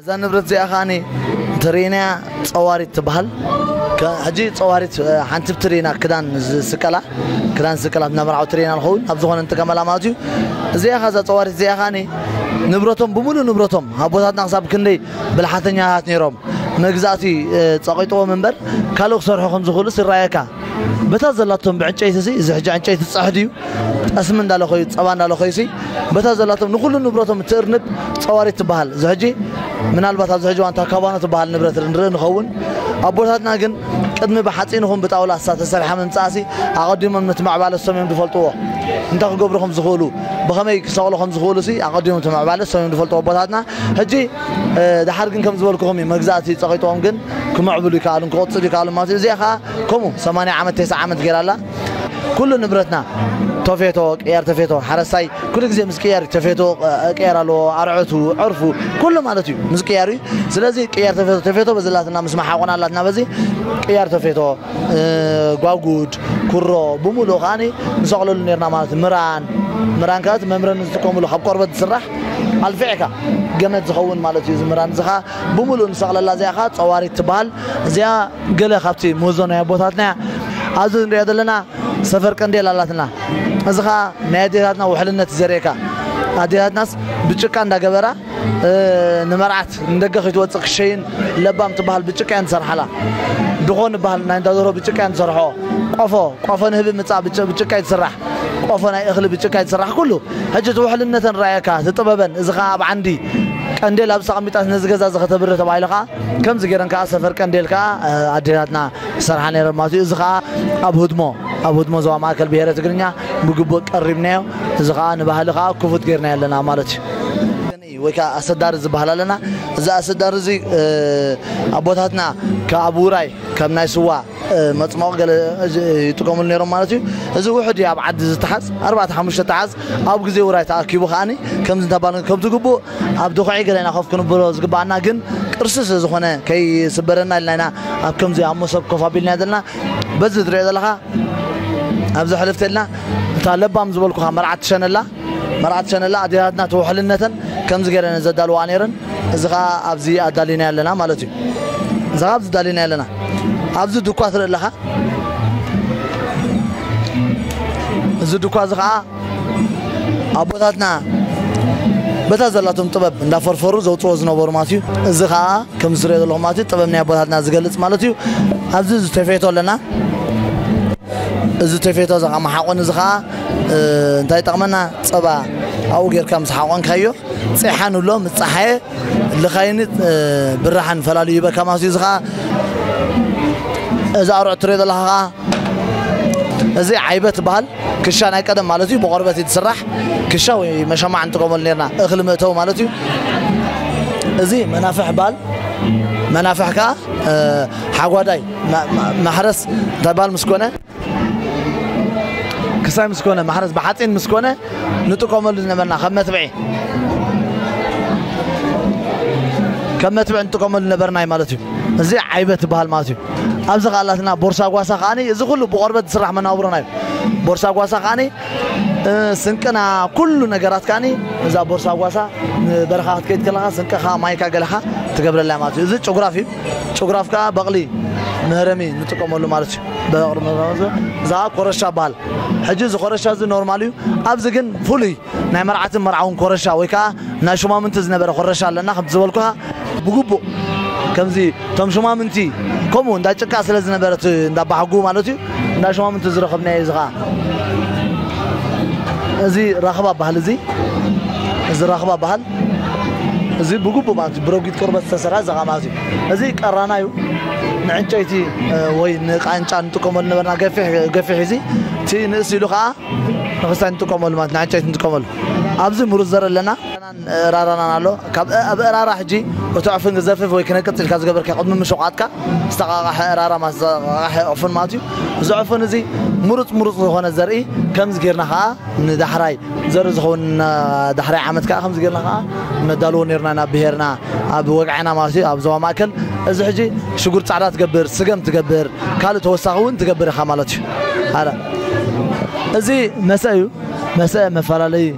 እዛ ንብረት እዚኣ ከዓኒ እንተርእናያ ፀዋሪት ትበሃል ሕጂ ፀዋሪት ሓንቲ ብትሪ ኢና ክዳን ዝስቀላ ክዳን ዝስቀላ ናብ መርዓዊ ትሪ ኢና ንኸውን ኣብ ዝኾነ ንጥቀመላ ማለት እዩ እዚኣ ከዛ ፀዋሪት እዚኣ ከዓኒ ንብረቶም ብምሉእ ንብረቶም ኣቦታትና ክሳብ ክንደይ ብልሓተኛታት ነይሮም መግዛእቲ ጸቂጥዎም እምበር ካልእ ክሰርሑ ከም ዝኽእሉስ ይረኣየካ በታ ዘላቶም ብዕንጨይቲ ሲ እዚ ሕጂ ዕንጨይቲ ጸሕ ድዩ ጠስሚ እንዳለኸዩ ጸባ እንዳለኸዩ ሲ በታ ዘላቶም ንኹሉ ንብረቶም እትእርንብ ጸዋሪት ትበሃል እዚ ሕጂ ምናልባት ኣብዚ ሕጂ ዋንታ ካባኖ ትበሃል ንብረት ንርኢ ንኸውን ኣቦታትና ግን ቅድሚ ብሓጺን ይኹን ብጣውላ እሳ ተሰርሓ ምምጻእሲ ኣቐዲሞም ነቲ ምዕባለ እሶም እዮም ዝፈልጥዎ እንታይ ክገብሩ ከም ዝኽእሉ ብኸመይ ክሰቕሉ ከም ዝኽእሉ ሲ ኣቐዲሞም እቲ ምዕባለ እሶም እዮም ዝፈልጥዎ ኣቦታትና ሕጂ ደሓር ግን ከም ዝበልኩኹም እዩ መግዛእቲ ጸቒጥዎም ግን ክምዕብሉ ይከኣሉን ክቕጽሉ ይከኣሉን ማለት እዩ እዚኣ ከኣ ከምኡ ሰማንያ ዓመት ቴስዓ ዓመት ጌራ ኣላ ኩሉ ንብረትና ተፌቶ ቅያር ተፌቶ ሓረስታይ ኩሉ ግዜ ምስ ቅያር ተፌቶ ቅያር ኣለዎ ኣርዕቱ ዕርፉ ኩሉ ማለት እዩ ምስ ቅያር እዩ ስለዚ ቅያር ተፌቶ ተፌቶ በዚ ኣላትና ምስ መሓቆና ኣላትና በዚ ቅያር ተፌቶ ጓጉድ፣ ኩሮ፣ ብምሉኡ ከኣ ንሰቕለሉ ኔርና ማለት እዩ። ምራን፣ ምራን ከኣ እቲ መምረ ንዝጥቀምሉ ካብ ቆርበት ዝስራሕ ኣልፊዕካ ገመድ ዝኸውን ማለት እዩ እዚ ምራን እዚ ከኣ ብምሉኡ ንሰቕለላ እዚኣ ከኣ ጸዋሪት ትበሃል። እዚኣ ገለ ካብቲ ምህዞ ናይ ኣቦታትና እያ። ኣብዚ ንርእያ ዘለና ሰፈር ቀንዴል ኣላትና እዚ ከኣ ናይ ኣዴታትና ውሕልነት እዩ ዘርእየካ ኣዴታትናስ ብጭቃ እንዳገበራ ንመርዓት ንደገ ክይትወጽእ ክሸይን ለባም ትበሃል ብጭቃ እየን ዝሰርሓላ ድኾ ንበሃል ናይ እንዳ ደርሆ ብጭቃ እየን ዝሰርሕኦ ቆፎ ቆፎ ንህቢ ምጻእ ብጭ- ብጭቃ እዩ ዝስራሕ ቆፎ ናይ እኽሊ ብጭቃ እዩ ዝስራሕ ኩሉ ሕጂ እቲ ውሕልነተን ረኣየካ እቲ ጥበበን እዚ ከኣ ኣብ ዓንዲ ቀንዴል ኣብዚ ተቐሚጣስ ነዚ ገዛ እዚ ከተብርህ ተባሂሉ ከኣ ከምዚ ገይረን ከኣ ሰፈር ቀንዴል ከኣ እ፣ ኣዴታትና ዝሰርሓ ነይረን ማለት እዩ እዚ ከኣ ኣብ ህድሞ ኣብ ህድሞ ዞባ ማእከል ብሄረ ትግርኛ ብግቡእ ቀሪብናዮ እዚ ከኣ ንባህሊ ከኣ ክፉት ጌርናዮ ኣለና ማለት እዩ። ወይ ከኣ ኣሰዳሪ ዝበሃል ኣለና። እዚ ኣሰዳሪ እዚ ኣቦታትና ካብ ውራይ ከም ናይ ስዋ መጽሞቒ ገለ ይጥቀምሉ ኔሮም ማለት እዩ። እዚ ውሑድ እዩ ኣብ ዓዲ ዝተሓዝ ኣርባዕተ ሓሙሽተ ተሓዝ ኣብ ግዜ ውራይ ተኣኪቡ ከኣ ከምዚ እንተባልና ከምቲ ግቡእ ኣብ ድኹዒ ገለ ኢና ኮፍ ክንብሎ ዝግበኣና ግን ቅርሲ ስለ ዝኾነ ከይስበረና ኢልና ኢና ኣብ ከምዚ ኣብ መሶብ ኮፍ ኣቢልናዮ ዘለና። በዚ ትርእዮ ዘለኻ ኣብዚ ሕልፍት ኢልና። እታ ለባም ዝበልኩኻ መርዓት ትሸነላ መርዓ ትሸነላ ኣዴታትና ተወሕልነተን ከምዚ ገይረን እየን ዘዳልውኣ ነይረን እዚ ከኣ ኣብዚ ኣዳሊናዮ ኣለና ማለት እዩ እዚ ከኣ ኣብዚ ኣዳሊናዮ ኣለና ኣብዚ ድኳ ትርኢ ኣለኻ እዚ ድኳ እዚ ከኣ ኣቦታትና በታ ዘላቶም ጥበብ እንዳፈርፈሩ ዘውፅዎ ዝነበሩ ማለት እዩ እዚ ከኣ ከም ዝትሪኦ ዘለኹም ማለት እዩ ጥበብ ናይ ኣቦታትና ዝገልፅ ማለት እዩ ኣብዚ ዝተፈየቶ ኣለና እዚ ቴፌቶ እዚ መሓቆኒ እዚ ከኣ እንታይ ይጠቕመና ጸባ ኣብኡ ጌርካ ምስ ሓቆንካዮ ጼሓ ንብሎ ምስ ጸሓየ ልኻይን ብራሕን ፈላልዩ ይበካ ማለት እዩ እዚ ከኣ እዚ ኣርዑት ትሪኦ ዘለኻ ከኣ እዚ ዓይበት ትበሃል ክሻ ናይ ቀደም ማለት እዩ ብቆርበት እዩ ትስራሕ ክሻ ወይ መሸማዕ ንጥቀመሉ ነርና እኽሊ መእተዊ ማለት እዩ እዚ መናፍሕ በሃል መናፍሕ ከዓ ሓጓዳይ ማሕረስ እንታይ ባል ምስ ኮነ ክሳይ ምስ ኮነ ማሕረስ ብሓፂን ምስ ኮነ ንጥቀመሉ ዝነበርና ከም መትብዒ ከም መትብዒ ንጥቀመሉ ነበርና እዩ ማለት እዩ እዚ ዓይበ ትበሃል ማለት እዩ ኣብዚ ካላትና ቦርሳ ጓሳ ከዓ እዚ ኩሉ ብቆርበት ዝስራሕ መናብሮና እዩ ቦርሳ ጓሳ ከዓ ስንቅና ኩሉ ነገራት ከዓ እዛ ቦርሳ ጓሳ ንበረኻ ክትከይድ ከለካ ስንቅኻ ማይካ ገለኻ ትገብረላ ማለት እዩ እዚ ጭጉራፍ እዩ ጭጉራፍ ከኣ በቕሊ መህረሚ ንጥቀመሉ ማለት እዩ በቕሊ መህረሚ እዛ ኮረሻ በሃል ሕጂ እዚ ኮረሻ እዚ ኖርማል እዩ ኣብዚ ግን ፍሉይ ናይ መርዓትን መርዓውን ኮረሻ ወይ ከዓ ናይ ሹማምንቲ ዝነበረ ኮረሻ ኣለና ከምቲ ዝበልኩኻ ብግቡእ ከምዚ እቶም ሹማምንቲ ከምኡ እንዳ ጭቃ ስለ ዝነበረት እንዳ ባሕጉ ማለት እዩ እንዳ ሹማምንቲ ዝረኸብናዮ እዚ ከዓ እዚ ራኽባ ባህል እዚ እዚ ራኽባ ባህል እዚ ብግቡእ ማለት እዩ ብረጒድ ቆርበት ዝተሰርሐ እዚ ማለት እዩ እዚ ቀራና እዩ ንዕንጨይቲ ወይ ንቃንጫ ንጥቀመሉ ነበርና ገፊሕ ገፊሕ እዚ እቲ ንእስ ኢሉ ከዓ ንክስታይ ንጥቀመሉ ማለት ንዕንጨይቲ ንጥቀመሉ ኣብዚ ምሩፅ ዘርኢ ኣለና ራራናን ኣሎ ካብ ኣብ እራራ ሕጂ እቲ ዕፉን ክዘፍፍ ወይ ክነቅፅ ኢልካ ዝገበርካ ቅድሚ ምሸቋጥካ ዝተቃቃሐ እራራ ማለት ዝተቃቃሐ ዕፉን ማለት እዩ እዚ ዕፉን እዚ ምሩፅ ምሩፅ ዝኾነ ዘርኢ ከምዚ ጌርና ከዓ ንዳሕራይ ዘርኢ ዝኸውን ዳሕራይ ዓመት ከኣ ከምዚ ጌርና ከኣ ነዳልዎ ኔርና ናብ ብሄርና ኣብ ወግዐና ማለት እዩ ኣብ ዞባ ማእከል እዚ ሕጂ ሽጉርቲ ጻዕዳ ትገብር ስገም ትገብር ካልእ ተወሳኺ እውን ትገብር ኢኻ ማለት እዩ ኣረ እዚ መሰ እዩ መሰ መፈላለዩ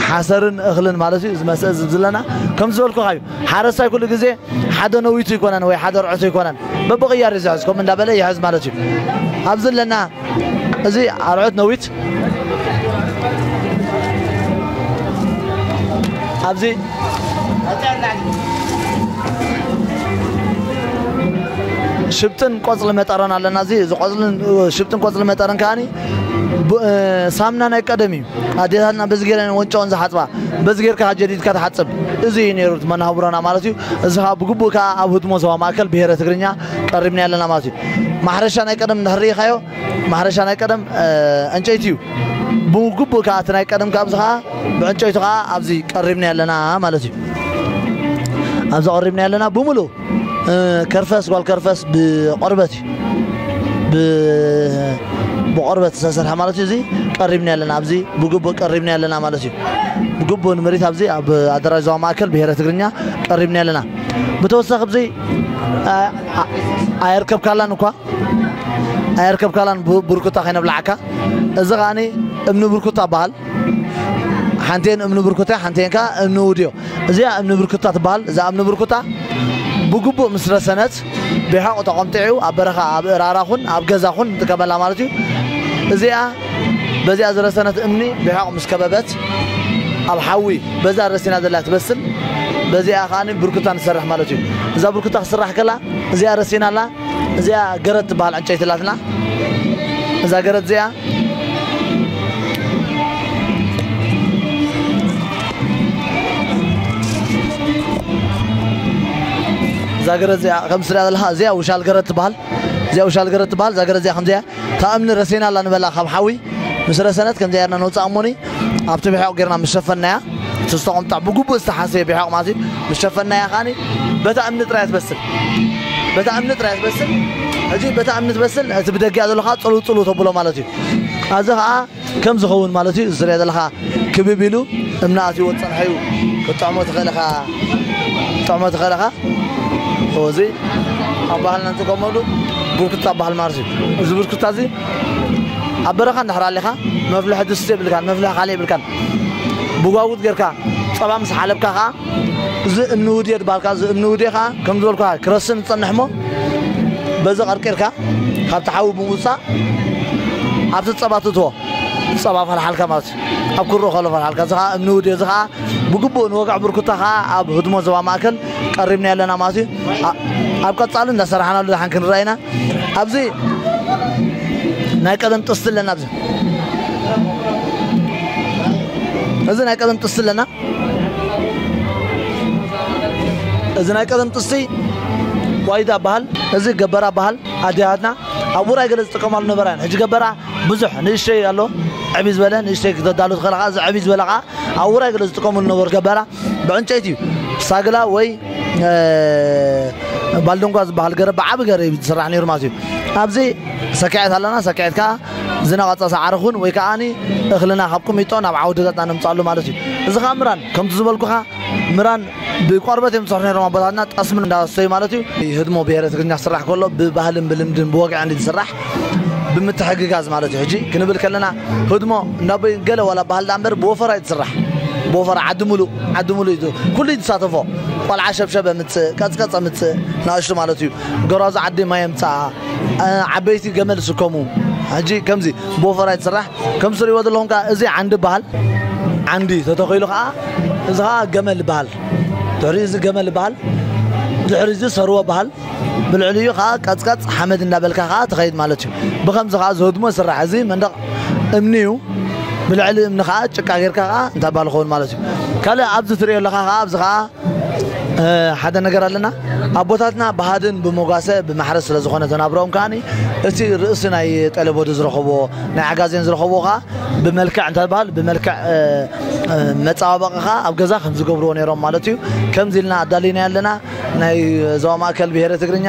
ሓሰርን እኽልን ማለት እዩ እዚ መስአ ዝብ ዝለና ከም ዝበልኩኻ እዩ ሓረስታይ ኩሉ ግዜ ሓደ ነዊቱ ይኮነን ወይ ሓደ ርዕቱ ይኮነን በብቕያር እዩ ዝሕዝ ከምኡ እንዳበለ ይሕዝ ማለት እዩ ኣብዚ ኣለና እዚ ኣርዑት ነዊት ኣብዚ ሽብጥን ቆፅሊ መጠረን ኣለና እዚ እዚ ቆፅልን ሽብጥን ቆፅሊ መጠረን ከዓኒ ብ- እ፣ ሳምና ናይ ቀደም እዩ ኣዴታትና በዚ ጌረ ወንጫውን ዝሓፅባ በዚ ጌርካ ጀዲድካ ትሓፅብ እዚ እዩ ነይሩ እቲ መናህቡራና ማለት እዩ እዚ ከዓ ብግቡእ ከዓ ኣብ ህድሞ ዞባ ማእከል ብሄረ ትግርኛ ቀሪብና ኣለና ማለት እዩ ማሕረሻ ናይ ቀደም እንድሕር ርኢኻዮ ማሕረሻ ናይ ቀደም ዕንጨይቲ እዩ ብግቡእ ከዓ እቲ ናይ ቀደም ካብዚ ከዓ ብዕንጨይቱ ከዓ ኣብዚ ቀሪብና ኣለና ማለት እዩ ኣብዚ ቀሪብና ኣለና ብምሉእ ከርፈስ ጓል ከርፈስ ብቆርበት እዩ ብቆርበት ዝተሰርሐ ማለት እዩ እዚ ቀሪብና ኣለና ኣብዚ ብግቡእ ቀሪብና ኣለና ማለት እዩ ብግቡእ ንምሪት ኣብዚ ኣብ ኣደራጅ ዞባ ማእከል ብሄረ ትግርኛ ቀሪብና ኣለና ብተወሳኺ ብዘይ ኣየርከብካላን እኳ ኣየርከብካላን ብርኩታ ከይነብላዓካ እዚ ከዓኒ እምኒ ብርኩታ በሃል ሓንቴን እምኒ ብርኩታ ሓንቴን ከዓ እምኒ ውድዮ እዚኣ እምኒ ብርኩታ ትበሃል እዛ እምኒ ብርኩታ ብግቡእ ምስ ረሰነት ብሓቑ ተቆምጢዑ ኣብ በረኻ ኣብ እራራኹን ኣብ ገዛኹን ንጥቀመላ ማለት እዩ እዚኣ በዚኣ ዝረሰነት እምኒ ብሕቕ ምስ ከበበት ኣብ ሓዊ በዛ ረሲና ዘላ ትበስል በዚኣ ከኣ ብርኩታ ንሰርሕ ማለት እዩ እዛ ብርኩታ ክስራሕ ከላ እዚኣ ረሲና ኣላ እዚኣ ገረት ትበሃል ዕንጨይቲ ኣላትና እዛ ገረት እዚኣ እዛ ገረት እዚኣ ከምስላ ዘለካ እዚኣ ውሻል ገረት ትበሃል እዚኣ ውሻል ገረት ትበሃል እዛ ገረት እዚኣ ከምዚኣ እታ እምኒ ረሲና ኣላ ንበላ ካብ ሓዊ ምስ ረሰነት ከምዚ ኣየርና ነውጻ እሞኒ ኣብቲ ብሒቅ ጌርና ምስ ሸፈናያ እቲ ዝተቆምጣ ብግቡእ ዝተሓሰየ ብሒቅ ማለት እዩ ምስ ሸፈናያ ከኣኒ በታ እምኒ ጥራይ ትበስል በታ እምኒ ጥራይ ትበስል ሕጂ በታ እምኒ ትበስል እቲ ብደጊኣ ዘሎ ከኣ ጽልው ጽልው ተብሎ ማለት እዩ ኣብዚ ከኣ ከም ዝኸውን ማለት እዩ እዚ ትሪኦ ዘለኻ ክብብ ኢሉ እምኒ ኣትይዎ ዝፀንሐ እዩ ክትጥዕሞ ትኽእል ኢኻ ክትጥዕሞ ትኽእል ኢኻ እዚ ኣብ ባህልና ንጥቀመሉ ቡርኩታ በሃል ማለት እዩ እዚ ቡርኩታ እዚ ኣብ በረኻ እንድሕር ኣሊኻ መፍልሒ ድስቲ የብልካን መፍልሒ ካልእ የብልካን ብጓጉት ጌርካ ፀባ ምስ ሓለብካ ከዓ እዚ እንውድዮ ድባልካ እዚ እንውድዮ ከኣ ከም ዝበልኩካ ክረስን ዝጸንሕ እሞ በዚ ቀርቂርካ ካብቲ ሓዊ ብምውጻእ ኣብቲ ጸባ ትእትዎ ጸባ ፈልሓልካ ማለት እዩ ኣብ ኩርኡ ከሎ ፈልሓልካ እዚ ከኣ እንውድዮ እዚ ከኣ ብግቡእ ንወግዒ ብርኩታ ከኣ ኣብ ህድሞ ዞባ ማእከል ቀሪብናዮ ኣለና ማለት እዩ ኣ- ኣብ ቀጻሊ እንዳሰራሕናሉ ድሓን ክንረኣ ኢና ኣብዚ ናይ ቀደም ጥስቲ ኣለና ኣብዚ እዚ ናይ ቀደም ጥስቲ ኣለና እዚ ናይ ቀደም ጥስቲ ዋይዳ በሃል እዚ ገበራ በሃል ኣዴታትና ኣብ ውራይ ገለ ዝጥቀማሉ ነበራ ሕጂ ገበራ ብዙሕ ንእሽተይ ኣሎ ዕብይ ዝበለ ንእሽተይ ክተዳሉ ትኽእል እዚ ዕብይ ዝበለ ከዓ ኣብ ውራይ ገለ ዝጥቀምሉ ነበሩ ገበራ ብዕንጨይቲ እዩ ሳግላ ወይ ባልደንጓ ዝበሃል ገረ ብዓቢ ገረ እዩ ዝስራሕ ነይሩ ማለት እዩ ኣብዚ ሰኪዐት ኣለና ሰኪዐት ከዓ ዝነቐጸ ሳዕሪ ኹን ወይ ከኣ እኽልና ካብ ቁሚጦ ናብ ዓውድታትና ነምጽኣሉ ማለት እዩ። እዚ ከኣ ምራን ከምቲ ዝበልኩኻ ምራን ብቆርበት እዮም ዝሰርሑ ነይሮም ኣቦታትና ጠስሚ እንዳሰተዩ ማለት እዩ። ህድሞ ብሄረ ትግርኛ ክስራሕ ከሎ ብባህልን ብልምድን ብወግዕን እዩ ዝስራሕ ብምትሕግጋዝ ማለት እዩ። ሕጂ ክንብል ከለና ህድሞ እንዳቦይ ገለ ዋላ ኣበሃል ደኣ እምበር ብወፈራ እዩ ዝስራሕ ብወፈራ ዓዲ ምሉእ ዓዲ ምሉእ እዩ ኩሉ እዩ ዝሳተፎ ቆልዓ ሸብሸብ ኣምጽእ ቀጽቀጽ ኣምጽእ ንኣሽቱ ማለት እዩ ጎራዙ ዓዲ ማይ ኣምጽኣ ዓበይቲ ገመል ስከሙ ሕጂ ከምዚ ብወፈራ ይትስራሕ ከም ዝትሪእዎ ዘለኹም ከዓ እዚ ዓንዲ ይበሃል ዓንዲ ተተኺሉ ከዓ እዚ ከዓ ገመል ይበሃል ድሕሪ እዚ ገመል ይበሃል ድሕሪ እዚ ሰርወ ይበሃል ብልዕሊኡ ከዓ ቀፅቀፅ ሓመድ እንዳበልካ ከዓ ትኸይድ ማለት እዩ ብከምዚ ከዓ ዝህድሞ ይስራሕ እዚ መንደቕ እምኒ እዩ ብልዕሊ እምኒ ከዓ ጭቃ ጌርካ ከዓ እንታይ ባል ይኸውን ማለት እዩ ካልእ ኣብዚ ትሪኦ ኣለኻ ከዓ ኣብዚ ከዓ ሓደ ነገር ኣለና ኣቦታትና ብሃድን ብሞጋሰ ብማሕረ ስለ ዝኾነ ተናብሮኦም ከዓኒ እቲ ርእሲ ናይ ጠለቦዱ ዝረኸቦ ናይ ዓጋዜን ዝረኸቦ ከዓ ብመልክዕ እንታይ በሃል ብመልክዕ መፀባበቂ ከዓ ኣብ ገዛ ከም ዝገብርዎ ነይሮም ማለት እዩ ከምዚ ኢልና ኣዳሊና ኣለና ናይ ዞባ ማእከል ብሄረ ትግርኛ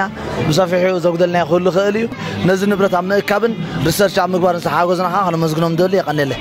ብሰፊሑ ዘጉደልናዮ ክህሉ ይኽእል እዩ። ነዚ ንብረት ኣብ ምእካብን ሪሰርች ኣብ ምግባርን ዝተሓገዙና ከኣ ከነመስግኖም ንደሊ። የቀኔለይ።